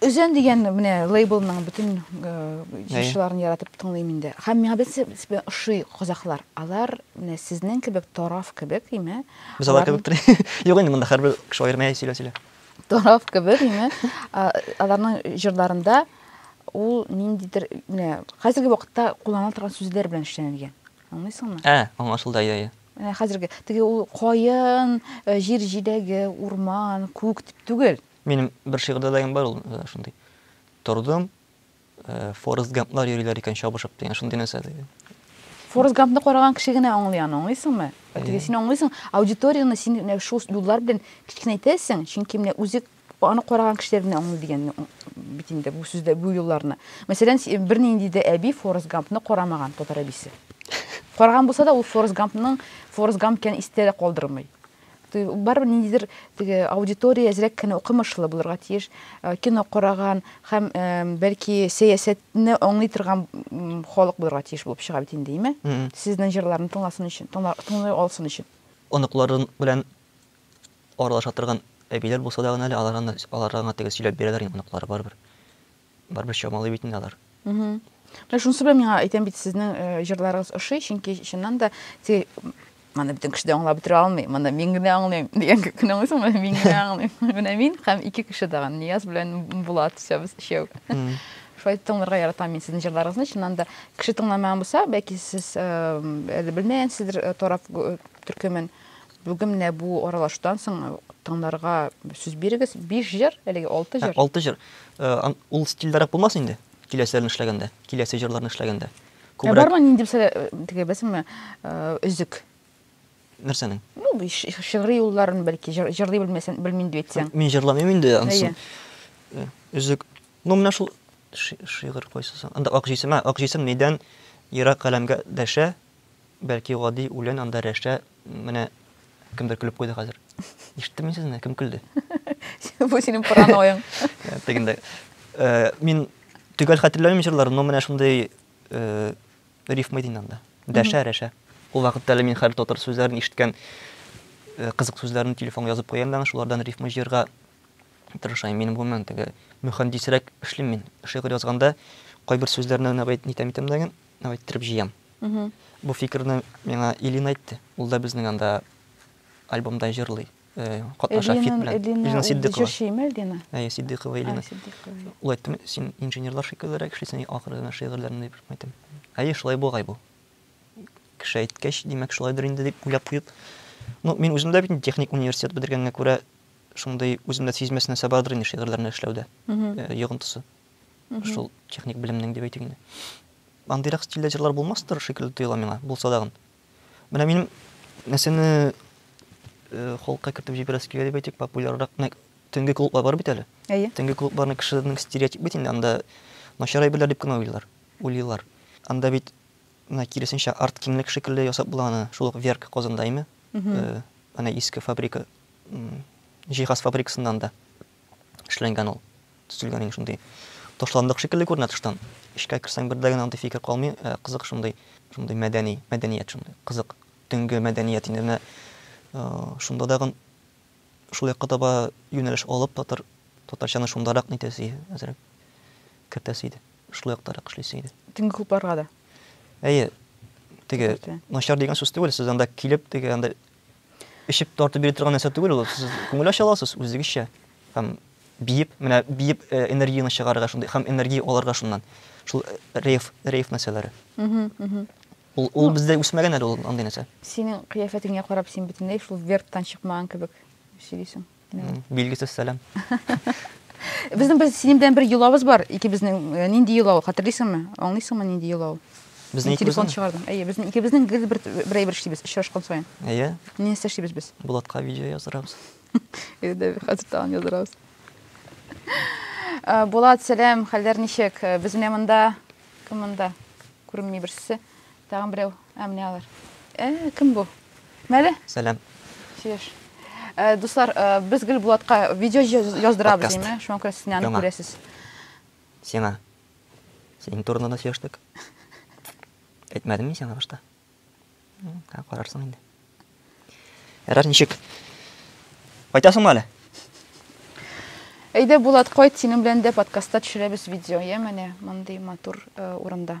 Үзен дигән менә лейблның бөтен җырчыларын яратып тыңлыйм инде. Һәм миңа бит сез белән ошый казахлар. Алар менә сезнең кебек тараф кебек, име? Без алар кебек тор. Юк инде монда һәрбер кеше аерма әй сөйлә сөйлә. Тараф кебек, име? Аларның җырларында ул ниндидер менә хәзерге вакытта кулланыла торган сүзләр белән эшләнгән. Аңлыйсыңмы? Ә, аңлашылды, ия, ия. Менә хәзерге теге ул каен, җир җиләге, урман, күк дип түгел. Минем бер шигырьдә дә бар ул шундый. Тордым, Форест Гамплар йөриләр икән чабышып дигән шундый нәрсә диде. Форест Гампны караган кеше генә аңлый аны, аңлыйсыңмы? Теге син аңлыйсың, аудиторияне син менә шул юллар белән кечкенәйтәсең, чөнки менә үзе аны караган кешеләр генә аңлый дигәнне бит инде бу сүздә бу юлларны. Мәсәлән, бернинди дә әби Форест Гампны карамаган татар әбисе. Караган булса да ул Форест Гампның Форест Гамп икәнен истә дә калдырмый. Барыбер ниндидер теге аудитория әзрәк кенә укымышлы булырга тиеш. Э, кино караган һәм э, бәлки сәясәтне аңлый торган халык булырга тиеш булып чыга бит инде, име? Сезнең җырларны тыңласын өчен, тыңлый алсын өчен. Оныкларын белән аралаша торган әбиләр булса да гына әле аларга аларга гына теге сөйләп бирәләр инде оныклары барыбер. барыбер чамалый бит инде алар. Менә шунысы белән миңа әйтәм бит, сезнең э, җырларыгыз ошый, чөнки чыннан да теге моны бөтен кеше дә аңлап бетерә алмый, моны мин генә аңлыйм дигән көн аңлыйсың, моны мин генә аңлыйм. Менә мин һәм ике кеше тагын, Нияз белән Булат үсәбез өчәү. Шулай тыңларга яратам мин сезнең җырларыгызны. Чыннан да кеше тыңламаган булса, бәлки сез э, әле белмәгәнсездер э, торап төркемен. Бүген менә бу аралаштан соң тыңларга сүз бирегез. Биш җыр, әлеге алты җыр. Алты җыр. Ул стильдәрәк булмас инде, киләселәрне эшләгәндә, киләсе җырларны эшләгәндә. Күбрәк. Бармы нинди бисә теге безме өзек? Нәрсәнең? Ну, шигъри юлларын бәлки җырлый белмәсәң, белмим дип әйтсәң. Мин җырламыйм инде ансын. Өзек. Ну, менә шул шигырь кайсы соң? Анда ак җисем, ак җисем нидән ерак галәмгә дәшә, Бәлки гади үлән анда рәшә, менә кемдер көлеп куйды хәзер. Ишеттем мин сезне, кем көлде? Бу синең паранояң. Тегендә. Э, мин төгәл хәтерләмим җырларын, но менә шундый э, рифма иде анда. Дәшә, рәшә. Ул вакытта әле мин хәл татар сүзләрен ишеткән э, кызык сүзләрен телефонга язып куям да, шулардан рифма җыярга тырышам. Мин гомумән теге мөхәндисрәк эшлим мин. Шигырь язганда кайбер сүзләрне генә бит нитәм итәм дә, иттереп җыям. Бу фикерне миңа Илин әйтте. Ул да безнең анда альбомда җырлый. Катнаша фит белән. Илина Сиддыйкова. Җырчымы Илина? Әйе, Сиддыйкова Илина. Ул әйтте, син инженерлар шикеллерәк эшлисең, ахыры гына шигырьләрне дип әйтәм. Әйе, шулай бугай бу. Кеше әйткәч, димәк, шулайдыр инде дип уйлап куеп. Ну, мин үзем дә бит техник университет бетергәнгә күрә, шундый үземдә сизмәс нәрсә бардыр инде шигырьләрне эшләүдә. Йогынтысы. Шул техник белемнең дип әйтик инде. Андыйрак стильдә җырлар булмастыр шикелле тоела миңа, булса дагын. Менә минем нәрсәне э, холка кертеп җибәрәсе килә дип әйтик, популяррак менә төнге клублар бар бит әле. Әйе. Төнге клубларны кешеләрнең стереотип бит инде, анда начар әйберләр дип кенә уйлыйлар. Уйлыйлар. Анда бит менә киресенчә арт киңлек шикелле ясап була аны, шул ук Верк Казанда име? Э, Ана иске фабрика, м, җиһаз фабрикасында анда. Эшләнгән ул. Төзелгән инде шундый. Ташландык шикелле күренә тыштан. Эчкә керсәң, бер дә генә андый фикер калмый. Ә кызык шундый, шундый мәдәни, мәдәният шундый. Кызык. Төнге мәдәният инде менә шунда тагын шул якка таба юнәлеш алып, татар, татарчаны шундарак нитәсе иде, әзрәк кертәсе иде. Шул яктарак эшлисе иде. Төнге клубларга да. Әйе, теге начар дигән сүз түгел, сез анда килеп, теге анда Эчеп тартып бирә торган нәрсә түгел ул. Сез күңел ача аласыз үзегезчә һәм биеп, менә биеп э, энергияне чыгарырга шундый һәм энергия алырга шуннан. Шул э, рейв, рейв нәрсәләре. Ул, ул ну, бездә үсмәгән әле ул андый нәрсә. Синең кыяфәтеңә карап, син бөтенләй шул верттан чыкмаган кебек сөйлисең. Билгесез сәлам. Безнең без синең белән бер йолабыз бар, икебезнең. Э, нинди йолау, хәтерлисеңме? Аңлыйсыңмы нинди йолау? Безнең телефон чыгардым. Әйе, безнең икебезнең гел бер бер әйбер эшлибез, очрашкан саен. Әйе. Ни нәрсә эшлибез без? Булатка видео яздырабыз. Әйдә, хәзер тагын яздырабыз. Э, Булат, сәлам, хәлләр ничек? Э, без менә монда, кем монда? Күренми берсе. Тагын берәү. Ә менә алар. Ә, кем бу? Мәле? Сәлам. Сөеш. Э, дуслар, э, без гел Булатка видео яздырабыз, диме? Шуңа күрә сез аны күрәсез. Сиңа. Синең турында да сөештек. Әйтмәдем мин сиңа башта. Ә карарсың инде. Ярар, ничек? Кайтасыңмы әле? Әйдә, Булат, кайт, синең белән дә подкастта төшерәбез видео, я менә мондый матур э, урында.